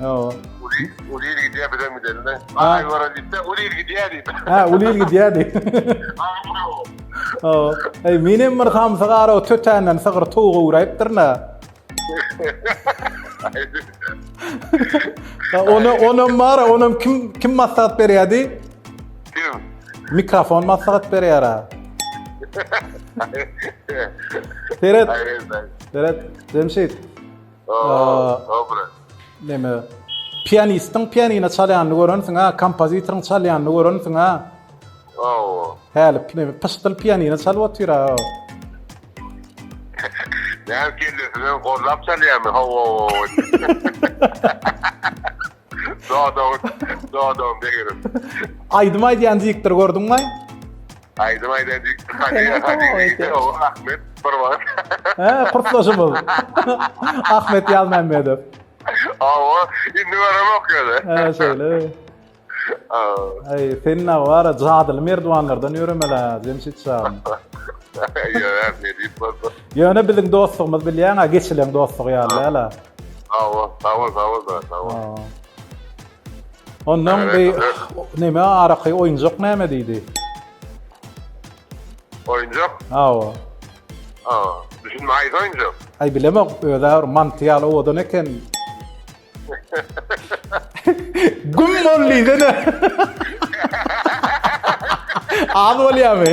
Hawa. Ulyl gidýär, bizem gidelim-de. Aý gören diýse, Ulyl gidýär diýip. Ha, Ulyl gidýär diýip. Hawa. Eý, menem bir hamsa gara tötänden sygyr towuk öwräýipdir-nä. Ona, onam bar, onam kim kim maslahat berýärdi? Kim? Mikrofon maslahat berýär-ä. Seret. Seret, Jemşit. Dobre. Neme? Pianistiň pianina çalýanyny görensiň ha, kompozitoryň çalýanyny görensiň ha. Awa. Häli neme pyşdyl pianina çalyp otyr ha. Näme kellesine gollap çalýarmy? Hawa. Dadaw, dadaw degerim. Aýdym aýdýan dikdir gördüň mi? Aýdym aýdýan dikdir. Hadi, hadi. Ahmet bir wagt. He, kursdaşymyz. Ahmet Ýazmämmedow. Awa, indi görem okýar. He, şeýle. Aý, sen ne bar? Jadyly merdiwanlardan ýöremeli, Jemşit şan. Ýöne biziň dostlugymyz bilýäň-ä, geçilen dostluk ýaly däl-ä. Hawa, sawol, sawol da, sawol. Ondan bi näme araky oýunjak näme diýdi? Oýunjak? Hawa. Hawa. Düşünme aýda oýunjak. Aý bilemok, özi bir manty ýaly owadan eken. Güm bol diýdi ne? Az bolýamy?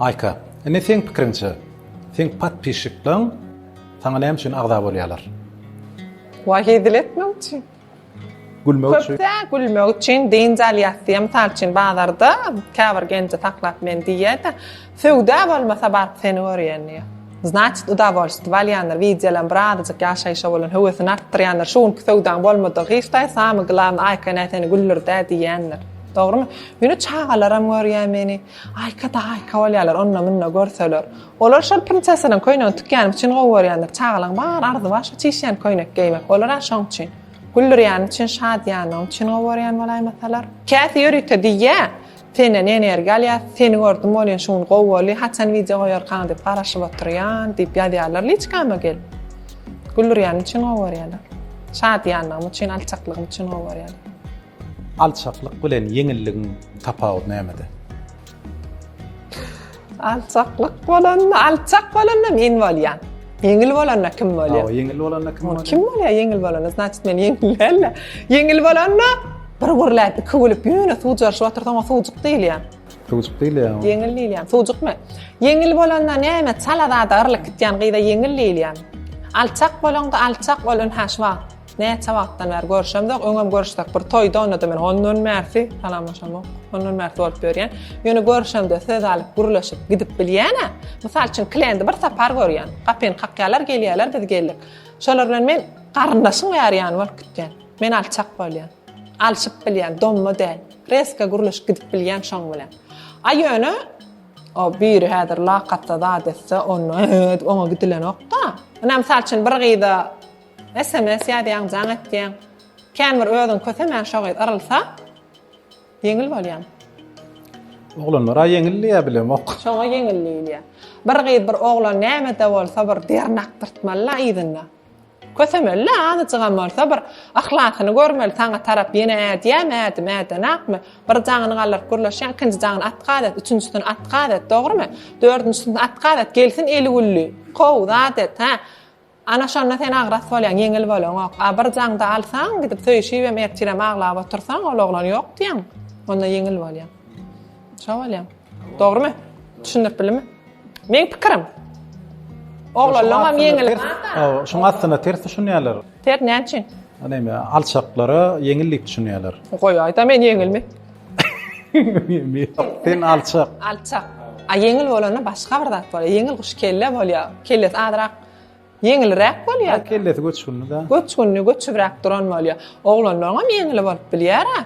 Aýka, indi seň pikiriňçe, seň podpisçikleň saňa näme üçin agza bolýarlar? Wah hezil etmek üçin. Gülmek üçin. Köpde gülmek üçin dynç alýas diýýär. Mysal üçin bazarda käbir genji saklap men diýýär-de, Söwda bolmasa baryp seni görýän diýýä. Znaçit udavolstwo alýandyr, widýolam bir azajyk ýaşaýşa bolan höwesini artdyrýandyr, şu günki söwdaň bolmadygy hiç daýy samy glawny Aýka ene seni güldürdä diýýändir. Dogrymy? Ýöne çagalaram görýä meni, Aýka da Aýka bolýalar onda munda görseler. Olar şol printsesanyň köýnegini tükýänim üçin gowy görýändir, çagalaň bar arzy bar şo çişýän köýnek geýmek, olara şoň üçin. Güldürýäni üçin şadyýanlygyny üçin gowy görýän bolaýmasalar. Käsi ýörite diýýä, Senden energiýa alýas, seni gördüm bolýa şu gün gowy boldy, haçan wideo goýarkaň diýip garaşyp otyrýan diýip ýazýarlar liçkama gelip. Güldürýänim üçin gowy görýärler. Şadyýanlygym üçin, alçaklygym üçin gowy görýärler. Alçaklyk bilen ýeňilligiň tapawudy nämede? Alçaklyk bolanda, alçak bolanda men bolýan. Ýeňil bolanda kim bolýar? Awa, ýeňil bolanda kim bolýar? Kim bolýar ýeňil bolanda? Znaçyt men ýeňil däl. Ýeňil bolanda bir gurläp, iki gülüp, ýöne suw jarşyp otursaň, o suwjuk diýilýär. Suwjuk diýilýär. Ýeňil diýilýär. Suwjuk men. Ýeňil bolanda näme? Çala zada gyrlyk gitýän gyza ýeňil diýilýär. Alçak bolanda, alçak ol ünhä şu wagt. Näçe wagtdan bäri görüşemzok, öňem görüşsek bir toýda onda-da men ondan bärsi salamlaşamok. Ondan bärsi bolup ýörýän. Ýöne görüşemde söz alyp, gürleşip gidip bilýän-ä. Mysal üçin klendi bir sapar görýän. Gapyny kakýarlar, gelýärler, biz geldik. Şolar bilen men garyndaşyň bäri ýany bolup gitýän. Men alçak bolýan. Alşyp bilýän, domma däl. Reska gürleşip gidip bilýän şoň bilen. A ýöne o biri häzir lakatda zat etse, onda oňa gidilenok-da. Ynha mysal üçin bir gyza Sms ýazýaň jaň etýäň. Kän bir özüň kösemän şo gyz yrylsa ýeňil bolýan. Oglanlara ýeňil diýýä bilemok. Şoňa ýeňil diýilýä. Bir gyz bir oglan nämede bolsa bir derin akdyrtmaly la yzynda. Kösemeli la azajygam bolsa bir yhlasyny görmeli saňa tarap ýene ädýämi ädim ädenakmy bir jaňyny galdyryp gürleşýäň ikinji jaňyny atkaz et üçünjisini atkaz et dogrymy dördünjisini atkaz et gelsin eli gülli how zat et hä Ana şonda sen agras bolýaň, ýeňil bolaňok. A bir jaňda alsaň, gidip söýüşibem ertirem aglap otursaň, ol oglany ýok diýeň, onda ýeňil bolýaň. Şo bolýaň. Dogrumy? Düşündirip bildimmi? Meň pikirim. Oglanlaňam ýeňil. Hawa, şoň aslynda ters düşünýärler. Ter näme üçin? Näme, alçaklara ýeňil diýip düşünýärler. Goýaýda men ýeňilmi? Sen alçak. Alçak. A ýeňil bolanda başga bir zat bolýar. Ýeňil guş kelle bolýar. Kellesi azrak Ýeňilräk bolýar. Ol kellesi göçgünli-dä. Göçgünli, göçübräk duran bolýar. Oglanlaryňam ýeňil bolup bilýär-ä.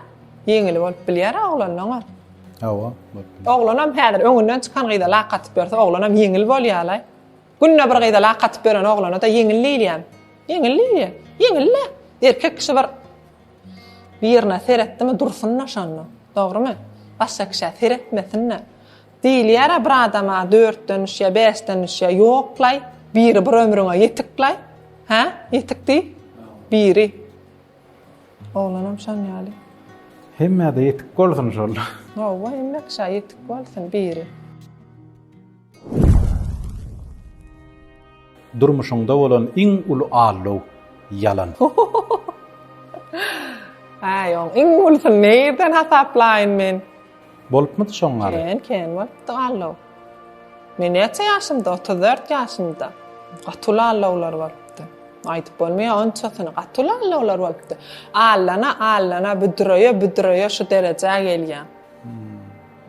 Ýeňil bolup bilýär-ä oglanlaňam. Hawa, bolup bilýär. Oglanam häzir öňünden çykan gyza lak atyp ýörse, oglanam ýeňil bolýar-laý. Günde bir gyza lak atyp ýören oglana-da ýeňil diýilýärmi? Ýeňil diýilýär. Ýeňil-le. Erkek kişi bir birine seretdimi dursun-da şonda. Dogrymy? Başga kişä seretmesin-de. Diýilýär-ä bir adama dörtden düşýä, bäşden düşýä. Ýoklaý, biri bir ömrüňe ýetiklaý. Hä? Ýetik diý. Biri. Oglanam şoň ýaly. Hemmä-de ýetik bolsun şol. Hawa, hemmek şa ýetik bolsun, biri. Durmuşyňda bolan iň uly allow, ýalan. Äý, oň iň ulusyny nirden hasaplaýyn men? Bolupmydy şoň gali? Kän, kän bolupdy gallow. Men näçe ýaşymda, otuz dört ýaşymda. Gaty uly allowlar bolupdy. Aýdyp bolmaýar onçasyny, gaty uly allowlar bolupdy. Allana, allana, büdreýe, büdreýe şu derejä gelýär.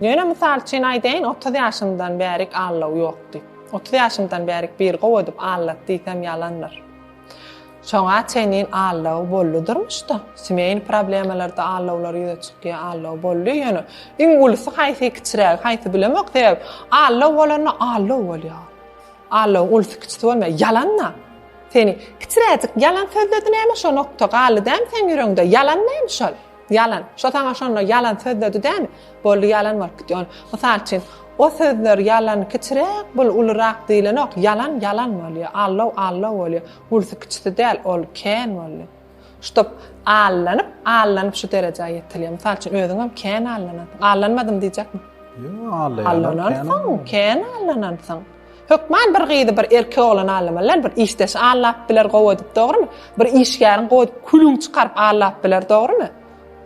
Ýöne mysal üçin aýdaýyn, otuz ýaşymdan bärik allow ýokdy. Otuz ýaşymdan bärik bir gowy edip allat diýsem ýalandyr. Şoňa çenlin allow boldy durmuşda. Simeýn problemalarda allowlar ýüze çykýa allow boldy ýöne iň ulusy haýsy kiçirägi haýsy bilemok sebäbi allow bolanda allow bolýa. Allow ulusy kiçisi bolmaýa ýalanda. Seni kiçiräjik ýalan sözledi näme şo nokta galdy dämi seň ýüreňde ýalan näme şol. Ýalan. Şo saňa şonda ýalan sözledi dämi? Boldy ýalan bolup gitdi. Ol, mysal üçin, o sözler ýalan kiçiräk, bul ulurak diýilenok. Ýalan ýalan bolýar. Allow allow bolýar. Ulusy kiçisi däl, ol kän boldy. Ştop allanyp, allanyp şu derejä ýetilýär. Mysal üçin, özüňem kän allanansyň. Allanmadym diýjekmi? Ýok, allanansyň, kän allanansyň. Hökman bir gyzy bir erkek oglan allamalylar bir işdeş allap biler gowy edip dogrymy? Bir işgäriň gowy edip külüň çykaryp allap biler dogrymy?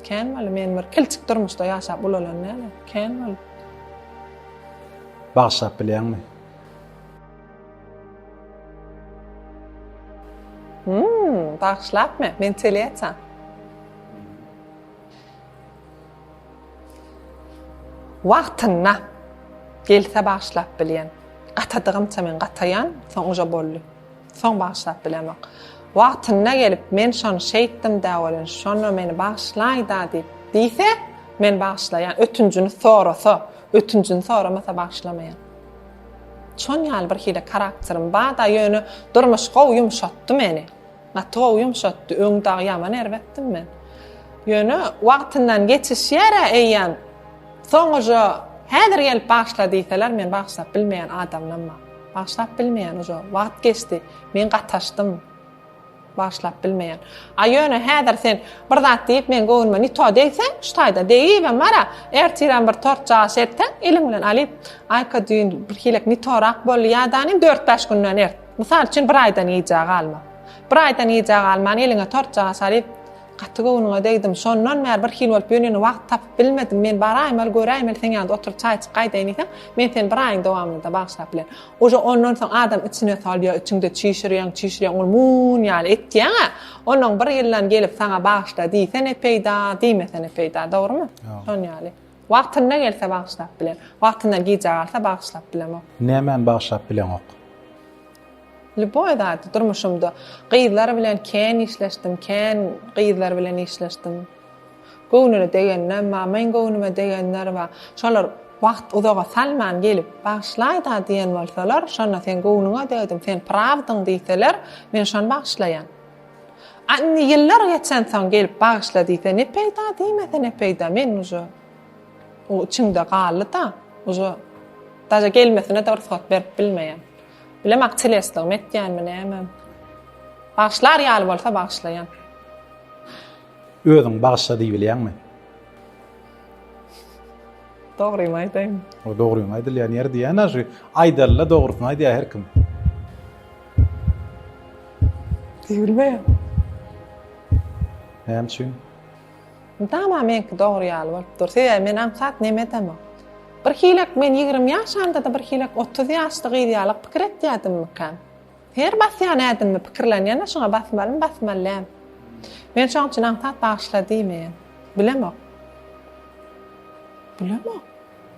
Kän boldy men bir kilçik durmuşda ýaşap ulalan näme? Kän boldy. Bagşap bilýäňmi? Hmm, bagşlapmy? Men telýaça. Wagtynda gelse bagyşlap bilýän. Gatadygymça men gataýan, soň uje boldy. Soň bagyşlap bilemok. Wagtynda gelip, men şony şeýtdim-dä welin, şonda meni bagyşlaý-da diýip, diýse, men bagyşlaýan, ötünjini sorasa, ötünjini soramasa bagyşlamaýan. Şon ýaly birhili karakterim bar-da, ýöne durmuş gowy ýumşatdy meni. Gaty gowy ýumşatdy, öň dagy ýaman erbetdim men. Ýöne wagtyndan geçişýär-ä eýýäm. Soňuja häzir gelip bagyşla diýseler men bagyşlap bilmeýän adamlamma. Bagyşlap bilmeýän uja wagt geçdi. Men gataşdym. Bagyşlap bilmeýän. A ýöne häzir sen bir zat diýip meň göwnüme ni to degseň, şu taýda degibem bar-a, ertirem bir tort jaýyş etseň, eliň bilen alyp, Aýka düýn birhilek ni torak boldy ýa-da ni dört-bäş günden ert. Mysal üçin bir aýdan gijä galma. Bir aýdan gijä galman eliňe tortjaga salyp, Gaty göwnüňe degdim, şondan bäri bir hil bolup ýörýän, wagt tapyp bilmedim, men baraýmaly, göräýmeli, seň ýanynda oturyp çaýçyk gaýdaýyn diýseň, men seni bir aýyň dowamynda-da bagyşlap bilerin. Uje ondan soň adam içine salýar, içiňde çişirýäň, çişirýäň, ol mum ýaly etýäň-ä. Onnoň bir ýyldan gelip saňa bagyşla diýse ne peýda, diýmese ne peýda, dogrumy? Şon ýaly. Wagtynda gelse bagyşlap bilen. Wagtyndan gijä galsa bagyşlap bilemok. Nämäni bagyşlap bileňok? Lýuboý zady durmuşymda. Gyzlar bilen kän işleşdim, kän gyzlar bilen işleşdim. Göwnüne degenler bar, meň göwnüme degenler bar. Şolar wagt uzaga salman gelip, Bagyşlaý-da diýen bolsalar, şonda sen göwnüňe degdim, sen prawdyň diýseler, men şony bagyşlaýan. A indi ýyllar geçensoň gelip bagyşla diýse ne peýda diýmese ne peýda men uje o içimde galdy-da uje daže gelmesine-de rugsat berip bilmeýän. Bilemok çilesligimi etýänmi nämem. Bagyşlar ýaly bolsa bagyşlaýan. Özüň bagyşla diýbilýäňmi? Dogrymy aýdaýyn. O dogryňy aýdylýan ýer diýýän-ä şu. Aýdaly-da dogrusyny aýdýar her kim. Diýbilmeýär. Näme üçin? Tamam meňki dogry ýaly bolup dur. Sebäbi men aňsat neme edemok. Bir hilek men ýigrimi ýaşamda-da bir hilek otuz ýaşly gyz ýaly pikir etýädimmikäm? Her basýan ädimimi pikirlen ýene şuňa basmalymy basmaly däl. Men şoň üçin aňsat bagyşla diýmeýän. Bilemok. Bilemok.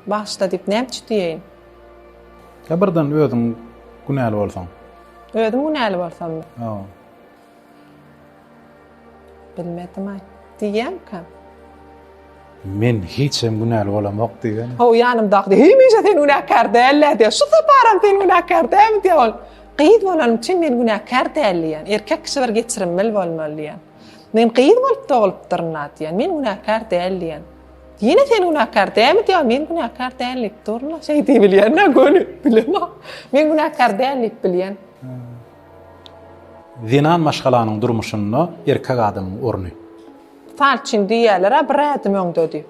Bagyşla diýip näme üçin diýeýin. Ýa birden özüň günäli bolsaň. Özüm günäli bolsammy? Hawa. Bilmedim-aý. Diýýämkam. Men hiç hem günäli bolamok diýýän. Ho, ýanymdaky, hemişe sen günäkär däl-ä diýýär. Şu saparam sen günäkär dälmi diýýär ol. Gyz bolanym üçin men günäkär däl diýýän. Erkek kişi bir geçirimli bolmaly diýýän. Men gyz bolup doglupdyryn-a diýýän. Men günäkär däl diýýän. Ýene sen günäkär dälmi diýýär. Men günäkär däl diýip durun-a. Şeý diýip bilýän-ä göni. Bilemok. Men günäkär däl diýip bilýän. Zenan maşgalanyň durmuşynda erkek adamyň orny. Mysal üçin diýýärler-ä bir ädim öňde diýip.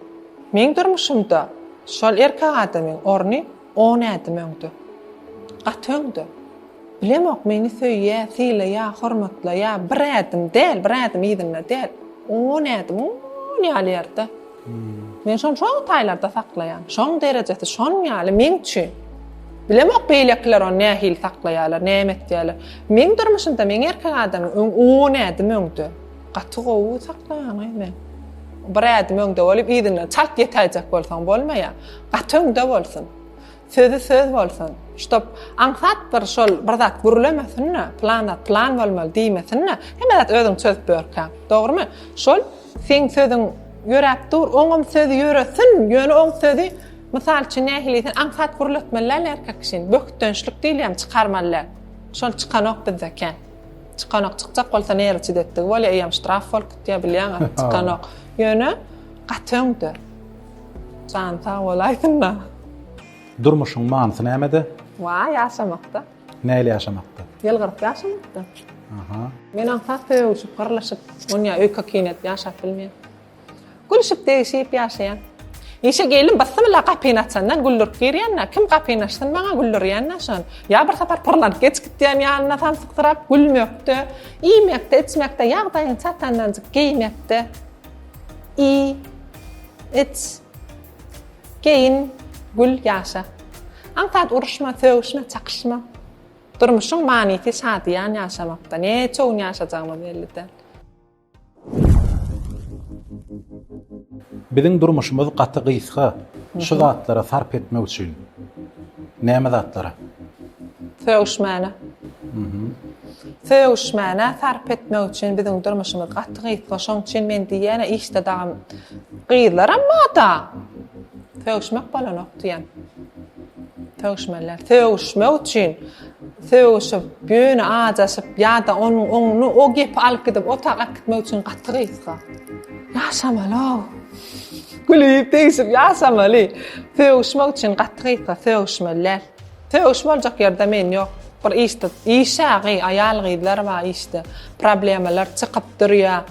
Meň durmuşymda şol erkek adamyň orny on ädim öňde. Gaty öňde. Bilemok meni söýýä, sylaýa, hormatlaýa bir ädim däl, bir ädim yzynda däl. On ädim, on ýaly ýerde. Men şony şol taýlarda saklaýan. Şoň derejesi şon ýaly meň üçin. Bilemok beýlekiler ony nähili saklaýarlar, näme etýärler. Meň durmuşymda meň erkek adamym öň on ädim öňde. Gaty gowy saklaýan-aý men. Bir ädim öňde bolup yzyndan çalt ýetäýjek bolsaň bolmaýar. Gaty öňde bolsun. Sözi söz bolsun. Ştob aňsat bir şol bir zat gürlemesin-de, plan zat plan bolmaly diýmesin-de, hemme zat özüň çözüp ýörkä. Dogrymy? Şol seň sözüň ýöräp dur, oňam sözi ýöresin, ýöne oň sözi mysal üçin nähili diýsen, aňsat gürletmeli däl erkek kişini. Bökdençlik diýilýän çykarmaly däl. Şol çykanok bizde kän. Çykanok, çykjak bolsa nerwi çidetdigi bolýar, eýýäm ştraf bolup gitýär, bilýäňizmi? Çykanok. Ýöne gaty öňde. Jany sag bolaýsynda. Durmuşyň manysy nämede? Waý, ýaşamakda. Näl ýaşamakda? Ýylgyryp ýaşamakda. Aha. Men aňsat sögüşip, gyrlyşyp, onýa öýke-kiýin edip ýaşap bilmeýän. Gülüşip, degşip ýaşaýan. Işe gelnim bysmylla gapyny açandan güldürip girýän-dä, kim gapyny açsyn maňa güldürýän-dä şony. Ýa bir sapar pyrlanyp geç gitýän ýanyna samsyksyrap gülmekde, iýmekde, içmekde, ýagdaýyň çatandanjyk geýmekde. I iç Geýin gül ýaşa Aňsat uruşma sögüşme çakyşma Durmuşyň manysy şadyýan ýaşamakda Neçe gün ýaşajagymyz belli däl. Biziň durmuşymyz gaty gysga şu zatlara sarp etmek üçin. Näme zatlara? Sögüşmäne. Sögüşmäne sarp etmek üçin biziň durmuşymyz gaty gysga şoň üçin men diýýäne işde dagam gyzlaram moda sögüşmek bolanok diýen. Sögüşmeliler. Sögüşmek üçin sögüşip, ýöne ajaşyp ýa-da onuň oňuny o gepi alyp gidip otag alyp gitmek üçin gaty gysga. Ýaşamaly-ow. Gülüp, degişip ýaşamaly. Sögüşmek üçin gaty gysga, sögüşmeliler. Sögüş boljak ýerde men ýok. Bir işde işa gyz aýal gyzlar bar işde. Problemalar çykyp durýa.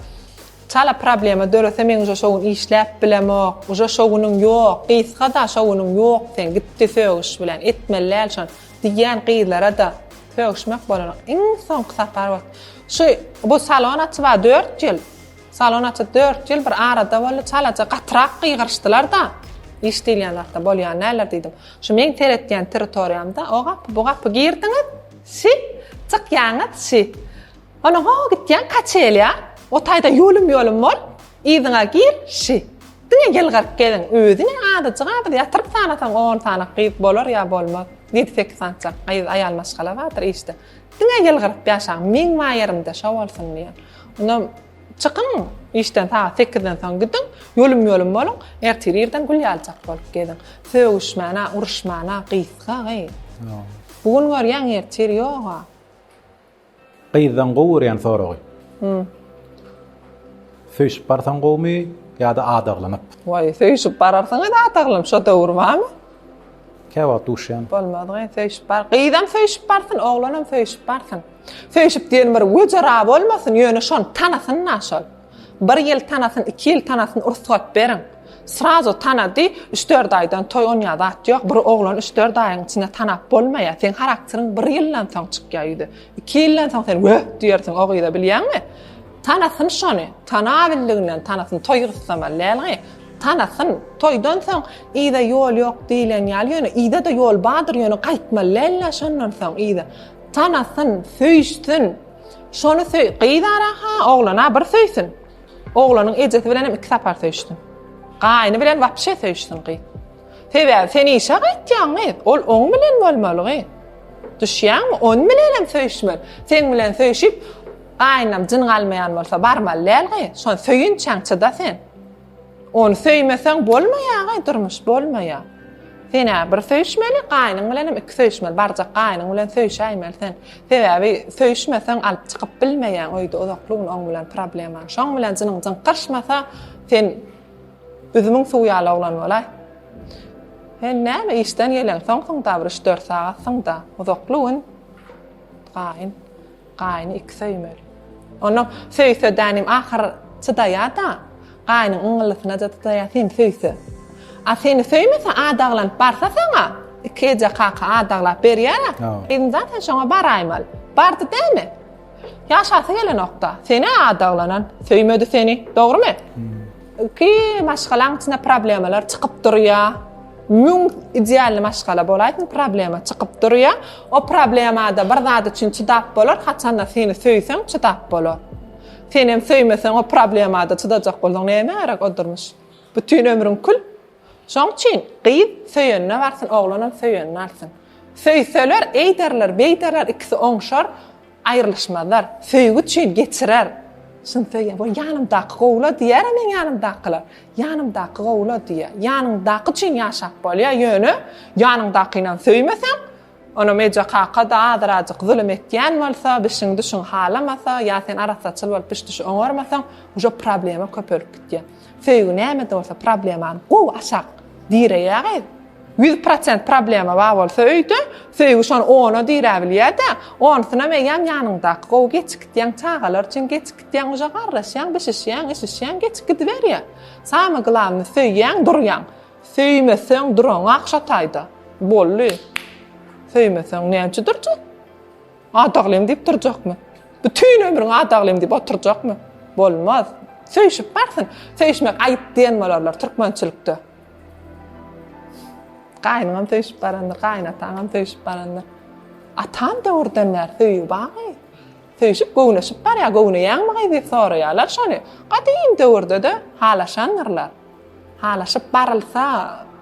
Çala problema dörese men uje şo gün işläp bilemok. Uje şo günüň ýok. Gysgada şo günüň ýok seň gitdi sögüş bilen. Etmeli däl şony. Diýýän gyzlara da sögüşmek bolany iň soňky sapar bot. Şu bu salon açyba dört ýyl. Salon açyp dört ýyl bir arada boldy. Çalaja gatyrak gygyryşdylar da. Iş diýilýän zatda bolýan däldir diýdim. Şu meň seretýän territoriýamda o gapy, bu gapy girdiňiz, şi, çykýaňyz, şi. Ondan ho gitýäň Kaçelýa, o taýda ýolum-ýolum bol, yzyňa gir, şi. Diňe ýylgyryp geziň, özi ne azajyk-a biz ýatyryp sanasaň on sany gyz bolar ýa bolmaz. Ýedi-sekiz sança gyz, aýal maşgala bardyr işde. Diňe ýylgyryp ýaşaň, meň maýerimde şo bolsun diýen. Onda Çykyň işden sagat sekizden soň gidiň, ýolum-ýolum boluň, ertir irden gül ýalyjak bolup geziň. Sögüşmän-ä, uruşman-a gysga gyz. Bu gün görýäň, ertir ýog-a. Gyzdan gowy görýän soragy. Söýşüp barsaň gowumy ýa-da adaglanyp? Waý, söýşüp bararsyň-a adaglanyp, şo döwür barmy? Käwagt duşýan. Bolmaz gyz söýşüp bar. Gyzam söýşüp barsyn, oglanam söýşüp barsyn. Söýşüp diýen bir wejera bolmasyn, ýöne şony tanasyn-da şol. Bir ýyl tanasyn, iki ýyl tanasyn, rugsat beriň. Srazu tanady, üç-dört aýdan toý onýa zat ýok. Bir oglany üç-dört aýyň içinde tanap bolmaýar. Seň harakteriň bir ýyldan soň çykýar ýüze. Iki ýyldan soň sen wöh diýersiň o gyza bilýäňmi? Tanasyn şony, tanabildiginden tanasyn, toý gyssamaly dälgi, tanasyn, toýdan soň yza ýol ýok diýilen ýaly, ýöne yza-da ýol bardyr, ýöne gaýtmaly däl-le şondan soň yza. Tanasyn, söýüşsin, şony söý, gyzara-ha, oglana bir söýsün, oglanyň ejesi bilenem iki sapar söýüşsin, gaýny bilen wapşe söýüşsin gyz. Sebäbi sen işe gaýtýaň gyz, ol oň bilen bolmaly gyz. Düşýäňmi, on bilenem söýüşmeli, seň bilen söýüşip, Gaýynam jyn galmaýan bolsa barmaly dälgy, şony söýünçäňçi-da sen. Ony söýmeseň bolmaýagy, durmuş bolmaýa. Sen-ä bir söýüşmeli, gaýynyň bilenem iki söýüşmeli, barjak gaýynyň bilen söýüşäýmeli sen. Sebäbi söýüşmeseň alyp çykyp bilmeýäň öýde uzakly gün oň bilen problemaň. Şoň bilen jynyň jyňkyryşmasa sen üzümiň suwy ýaly oglan bolaý. Sen näme işden gelen soňsuň-da bir üç-dört sagatsyň-da, uzakly gün gaýyn. Gaýyny iki söýmeli. Onam söýse-dänim ahyr çydaýa-da, gaýynyň yňyllysyna-da çydaýa seni söýse. A seni söýmese adaglanyp barsa saňa, iki eje kaka adaglap berýär-ä. Gyzym zaten şoňa baraýmaly. Bardy dämi? Ýaşasy gelenok-da. Sen-ä adaglanan, söýmedi seni. Dogrymy? Ilki maşgalaň içinde problemalar çykyp durýa. Müň idealny maşgala bolaýsyn, problema çykyp durýa. O problemada bir zat üçin çydap bolar, haçanda seni söýseň çydap bolar. Sen hem söýmeseň o problemada çydajak bolsaň näme gerek o durmuş? Bütün ömrüň kül. Şoň üçin gyz söýenine barsyn, oglan hem söýenini alsyn. Söýseler, eýderler, beýderler, ikisi oňşar. Aýrylyşmazlar, söýgi üçin geçirer. Çyn söýýän bol ýanymdaky gowula diýýär-ä meň ýanymdakylar. Ýanymdaky gowula diýýär. Ýanyňdaky üçin ýaşap bolýar, ýöne ýanyňdakynam söýmeseň, onam eje kaka-da azyrajyk zulum etýän bolsa, bişiň-düşiň halamasa ýa sen arassaçyl bolup biş-düşi oňarmasaň, uje problema köpelip gitýär. Söýgi näme bolsa problemany gowy aşak direýä gyz. Ýüz prosent problema bar bolsa öýde, söýgi şony ona diräbilýä-dä, onusynam eýýäm ýanyňdaky gowy geçip gidýäň, çagalar üçin geçip gidýäň, uje garraşýaň, bişişýäň, işişýäň, geçip gidiberýä. Samy glavny söýýäň, durýaň. Söýmeseň duraňak şo taýda. Boldy. Söýmeseň näme üçin durjak? Adaglym diýip durjakmy? Bütin ömrüň adaglym diýip oturjakmy? Bolmaz. Söýşüp barsyn. Söýşmek aýyp diýen bolarlar türkmençilikde. Gaýynyňam söýşüp barandyr, gaýynataňam söýşüp barandyr. Atam döwürden bäri söýgi barmy? Söýşüp göwneşip barýar, göwneýäňmi gyz diýip soraýarlar şony. Gadym döwürde-de halaşandyrlar. Halaşyp barylsa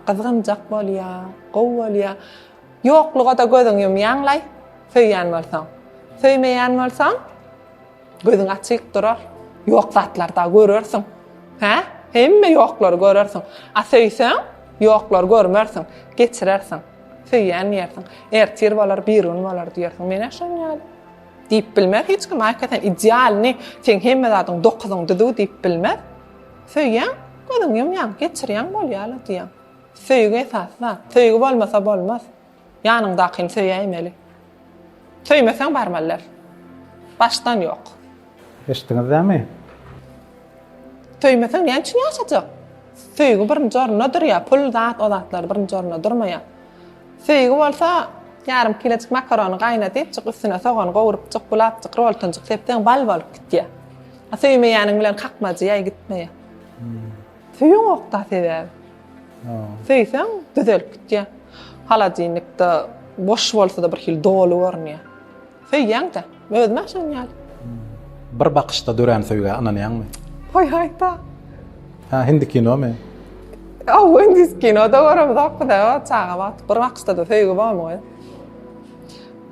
gyzgynjak bolýar, gowy bolýar. Ýokluga-da gözüňi ýumýaň-laý, söýýän bolsaň. Söýmeýän bolsaň, gözüň açyk durar. Ýok zatlar-da görersiň. Hä? Hemme ýoklary görersiň. A söýseň, ýoklary görmersiň, geçirersiň. Söýýän diýersiň. Ertir bolar, birigün bolar diýersiň. Men-ä şonuň ýaly. Diýip bilmez hiç kim. Aýka sen idealny, seň hemme zadyň dokuzyň düzüw diýip bilmez. Söýýäň, gözüňi ýumýaň, geçirýäň, bolýa-la diýýäň. Söýgi esasy zat. Söýgi bolmasa bolmaz. Ýanyňdakyny söýäýmeli. Söýmeseň barmaly däl. Başdan ýok. Eşitdiňiz dämi? Söýmeseň näme üçin ýaşajak? Söýgi birinji orunda durýar. Pul zat o zatlar birinji orunda durmaýar. Söýgi bolsa ýarym kilejik makarony gaýnadypjyk üstüne sogan gowrupjyk gulapjyk roltonjyk sepseň bal bolup gitýär. A söýmeýäniň bilen kakmajy ýaý gitmeýär. Söýeňokda sebäbi. Söýseň düzelip gitýä. Holodilnikde boş bolsada bir hili doly görünýä. Söýýäňdä. Özüme şonuň ýaly. Bir bakyşda dörän söýgä ynanýaňmy? Goý aýta. Ha hindi kinomy? Aw indis kinoda göremzokda o çaga wagty bir bakyşda-da söýgi bormy goý?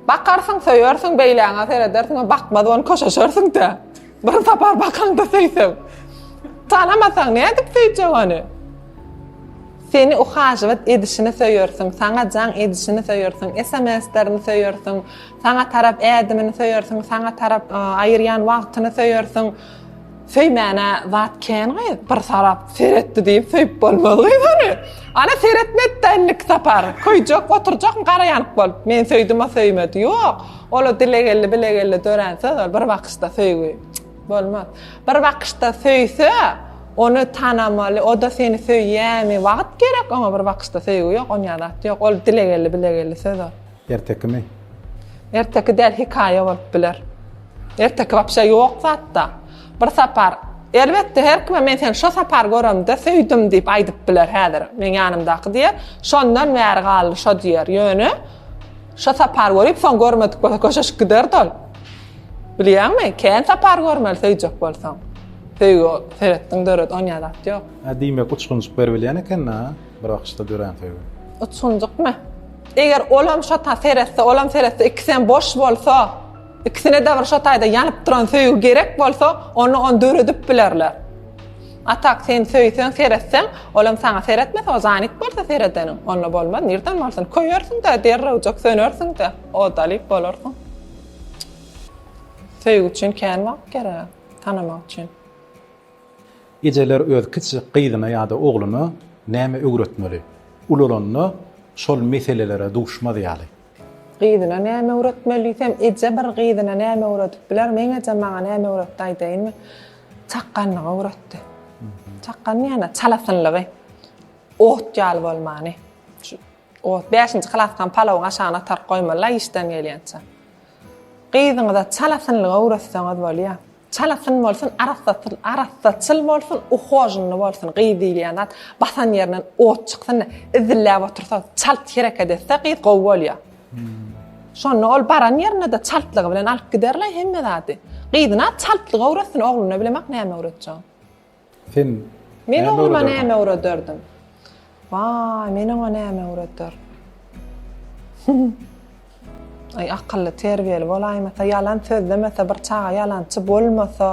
Bakarsyň söýersiň beýläňe seredersiň bakmaz ony köşeşersiňdä. Bir sapar bakaňda söýseň. Tanamasaň nädip söýjek ony? Seni uhažywat edişini söýersiň, saňa jaň edişini söýersiň, SMS-lerini söýersiň, saňa tarap ädimini söýersiň, saňa tarap aýyrýan wagtyny söýersiň. Söýmäne zat kän gyz, bir sarap seretdi diýip söýüp bolmaz gyz ony. Ana seretmedi-de indi sapar. Köýjek, oturjak, garaýank bolup. Men söýdüm, o söýmedi. Ýok. Ola dile geldi, bile geldi dörän söz ol bir bakyşda söýgi. Bolmaz. Bir bakyşda söýse, ony tanamaly, o da seni söýýämi? Wagt gerek oňa bir bakyşda söýgi ýok, onýa zat ýok. Ol dile geldi, bile geldi söz ol. Ertekimi? Erteki däl hikaýa bolup biler. Erteki wapşe ýok zatda. Bir sapar Elbetde her kime men seni şo sapar göremde söýdüm diýip aýdyp biler häzir. Meň ýanymdaky diýer, şondan bäri galdy şo diýer. Ýöne Şo sapar görüp, soň görmedik bolsa köşeşip giderdi ol. Bilýäňmi, kän sapar görmeli söýjek bolsaň. Söýgi seretdiň döret, onýa zat ýok. Hä, diýmek uçgunjyk beribilýän eken-dä, bir bakyşda dörän söýgi. Uçgunjykmy? Eger olam şo ta seretse, olam seretse, ikisem boş bolsa, ikisine-de bir şo taýda ýanyp duran söýgi gerek bolsa, onda ony döredip bilerler. Atak sen söýseň seretseň olam saňa seretmez ozanik bolsa seredeniň onda bolmaz nirden bolsun köýersiňdä derrewjek sönersiňdä odalyk bolarsyň söýgi üçin kän wagt gerek tanamak üçin. Ejeler öz kiçijik gyzyna ýa-da ogluna näme öwretmeli? Ulalanda şol meselelere duşmaz ýaly. Gyzyna näme öwretmeli diýsem, eje bir gyzyna näme öwredip biler, meň ejem maňa näme öwretdi aýdaýynmy? Çakganlygy öwretdi. Çakgan diýýän-ä, çalasynlygy. Ot ýaly bolmany. Şu ot, bäşinji klasykam palawyň aşagyna ataryp goýmaly-la işden gelýänçä. Gyzyňyza çalasynlygy öwretseňiz bolýar. Çalasyn bolsun, arassaçyl, arassaçyl bolsun, uhojnly bolsun, gyz diýilýän zat basan ýerinden ot çyksyn-da, izilläp otursa, çalt hereket etse gyz gowy bolýar. Şonda ol baran ýerinde-de çaltlygy bilen alyp giderle hemme zady. Gyzyna çaltlyk öwretsin, ogluna bilemok näme öwretjegini. Sen Men ogluma näme öwrederdin? Waý, men oňa näme öwreder? Aý, akylly, terbiýeli bolaýmasa, ýalan sözlemese, bir çaga ýalançy bolmasa,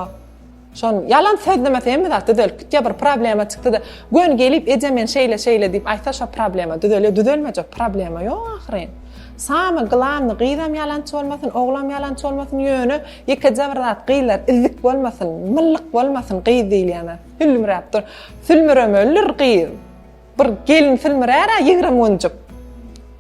şon ýalan sözlemese hemme zat düzelip gitýär. Bir problema çykdy-da, göni gelip, eje men şeýle-şeýle diýip aýtsa, şo problema düzelýär. Düzelmejek problema ýok ahyryn. Samy glanny gyzam ýalançy bolmasyn oglam ýalançy bolmasyn ýöne ýekeje bir zat gyzlar illik bolmasyn myllyk bolmasyn gyz diýilýänzat sülmüräp dur sülmüremelidir gyz bir gelin sülmürärä ýigrimi günjük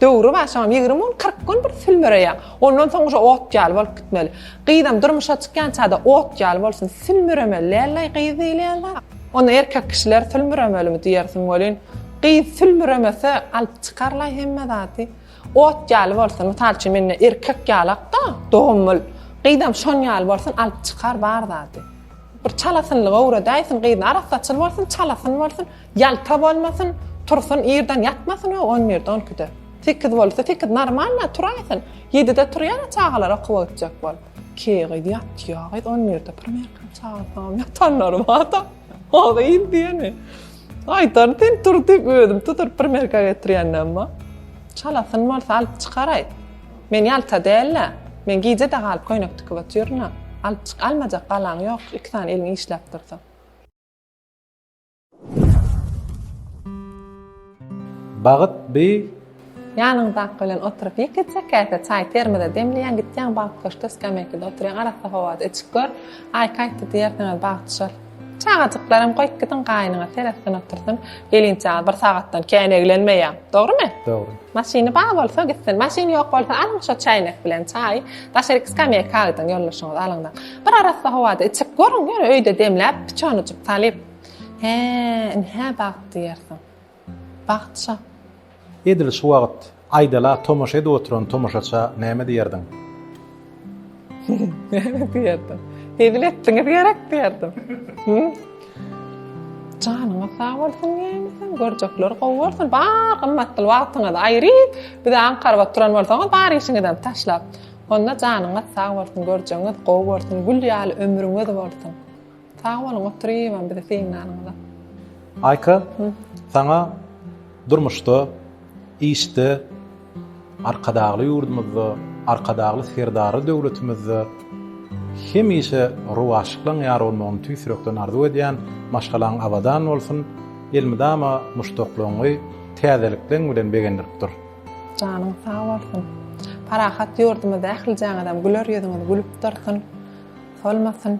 döwri bar şoňam ýigrimi gün kyrk gün bir sülmüreýär ondan soň uje ot ýaly bolup gitmeli gyzam durmuşa çykýançada ot ýaly bolsun sülmüremeli dälläý gyz diýilýän zat. Onda erkek kişiler sülmüremelimi diýersiň welin, gyz sülmüremese, alyp çykarlaý hemme zady. Ot ýaly bolsun, mysal üçin men indi erkek ýalak-da, doganmyl. Gyzam şon ýaly bolsun, alyp çykar bar zady. Bir çalasynlygy öwredäýsin, gyz arassaçyl bolsun, çalasyn bolsun, ýalta bolmasyn, tursun, irden ýatmasyn we on birde, on ikide. Sekiz bolsa, sekiz normalna turaýsyn. Ýedide turýar-a çagalar okuwa gitjek bolup. Ke gyz ýatýa gyz on birde primýerka çagyrsaňam ýatanlary barda. O gyz diýeni. Aýdan sen tur diýip özüm tutup primýerka getirýändem bar. Çalasyn bolsa alyp çykaraý. Men ýalta däl-ä. Men gije-de galyp köýnek tikip otyryn-a. Alyp çyk, almajak balaň ýok, iki sany eliň işläp dursa. Bagyt bi Ýanyňdaky bilen oturyp ýekeje käse çaý termada demleýäň, gitýäň bagyt köşkde skamýakada oturýaň, arassa howada içip gör, aý kaýtdy diýersiňiz, bagyt düşer. Çagajyklaram goýup gidiň, gaýynyňyz seretsin otursyn, gelinçäňiz bir sagatdan kän eglenmeýär. Dogrymy? Dogry. Maşyny bar bolsa gitsin, maşyny ýok bolsa alyň şo çäýnek bilen çaýy, daşaryk skamýaka gidiň, ýoldaşyňyzy alyňda. Bir arassa howada içip görüň, ýöne öýde demläp, piçonujyk salyp. Hä, ynha bagt diýersiň. Bagt şa. Edil şu wagt aýdala tomaşa edip oturan tomaşaça näme diýerdiň? Näme diýerdim? Hezil etdiňiz gerek diýerdim. Janyňyz sag bolsun diýäýin sen, görjekler gowy bolsun. Bar gymmatly wagtyňyzy aýryp, bize aňkaryp oturan bolsaňyz, bar işiňizi hem taşlap. Onda janyňyz sag bolsun, görjegiňiz gowy bolsun, gül ýaly ömrüňiz bolsun. Sag boluň oturypam bizi synlanyňyza. Aýka saňa durmuşda işde Arkadagly ýurdumyzda Arkadagly Serdarly döwletimizde hemişe rowaçlyklaň ýar bolmagyny tüýs ýürekden arzuw edýän maşgalaň abadan bolsun elmydama muşdaklygyňy täzelikleň bilen begendirip dur. Janyň sag bolsun. Parahat ýurdumyzda ählijaňyzam güler ýüzüňiz gülüp dursun. Solmasyn.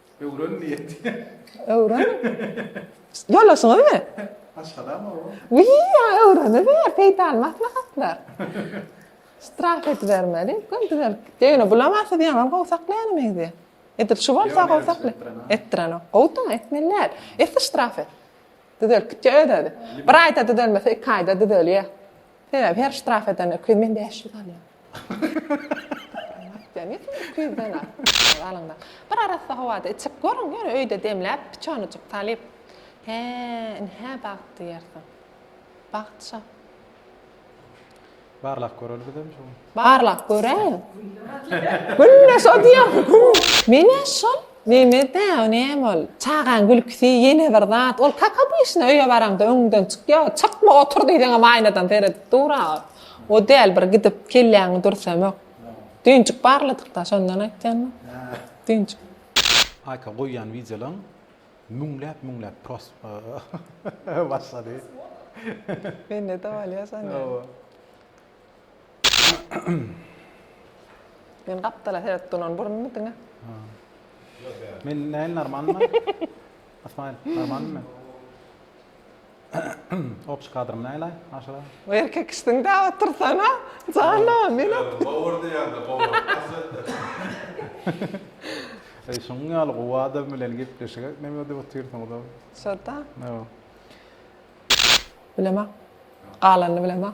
Öwren diýet. Öwren. Ýoldaşyňyz mi? Maşgalam o. Wiý, ýa öwreni ber, peýdaly maslahatlar. Strah edibermeli, göm düzelip gitdi. Ýöne bulama siz ýaňam gowy saklaýan meňzýär. Edil şu bolsa gowy sakly. Etdirenok. Gowudyň, etmeli däl. Esi ştraf et. Düzelip gitdi özi. Bir aýda düzelmese, iki aýda düzelýär. Sebäbi her ştraf eden öküz men bäş ýüz alýan. Aýtýan ýetim öküz ýüzden az. Alyňda. Bir arassa howada içip görüň, ýöne öýde demläp piçonyjyk talyp. Hä, indi hä bagt diýersiň. Bagt şa. Barlap göreli bizem şu gün. Barlap göräýiň. Günde şo diýýär. Menä şol neme dä, o näme ol? Çagaň gülküsi ýene bir zat. Ol kak obyşna öýe baraňda öňüňden çykýa, çykma otur diýseňem aýnadan seredip dur-a. O däl bir gidip kelläňi dürsemok. Düýnjik barladyk-da, şondan aýtýanmy? Düýnjik. Aýka goýýan wideolaň müňläp-müňläp pros başlady. Mende-de bolýa şonda. Men gapdala seredip duran burunmy diňe? Men näl normalmy? Asmaýl, normalmy men? Opşy kadrym näle aşyra? Erkek işdiň dä otursana. Jana, men Gowur diýende gowur. Eý, şuň ýaly gowy adam bilen gepleşik etmegi ödüp otyrsyňyz-ow. Şo-da. Ýa. Bilemok. Galanyny bilemok.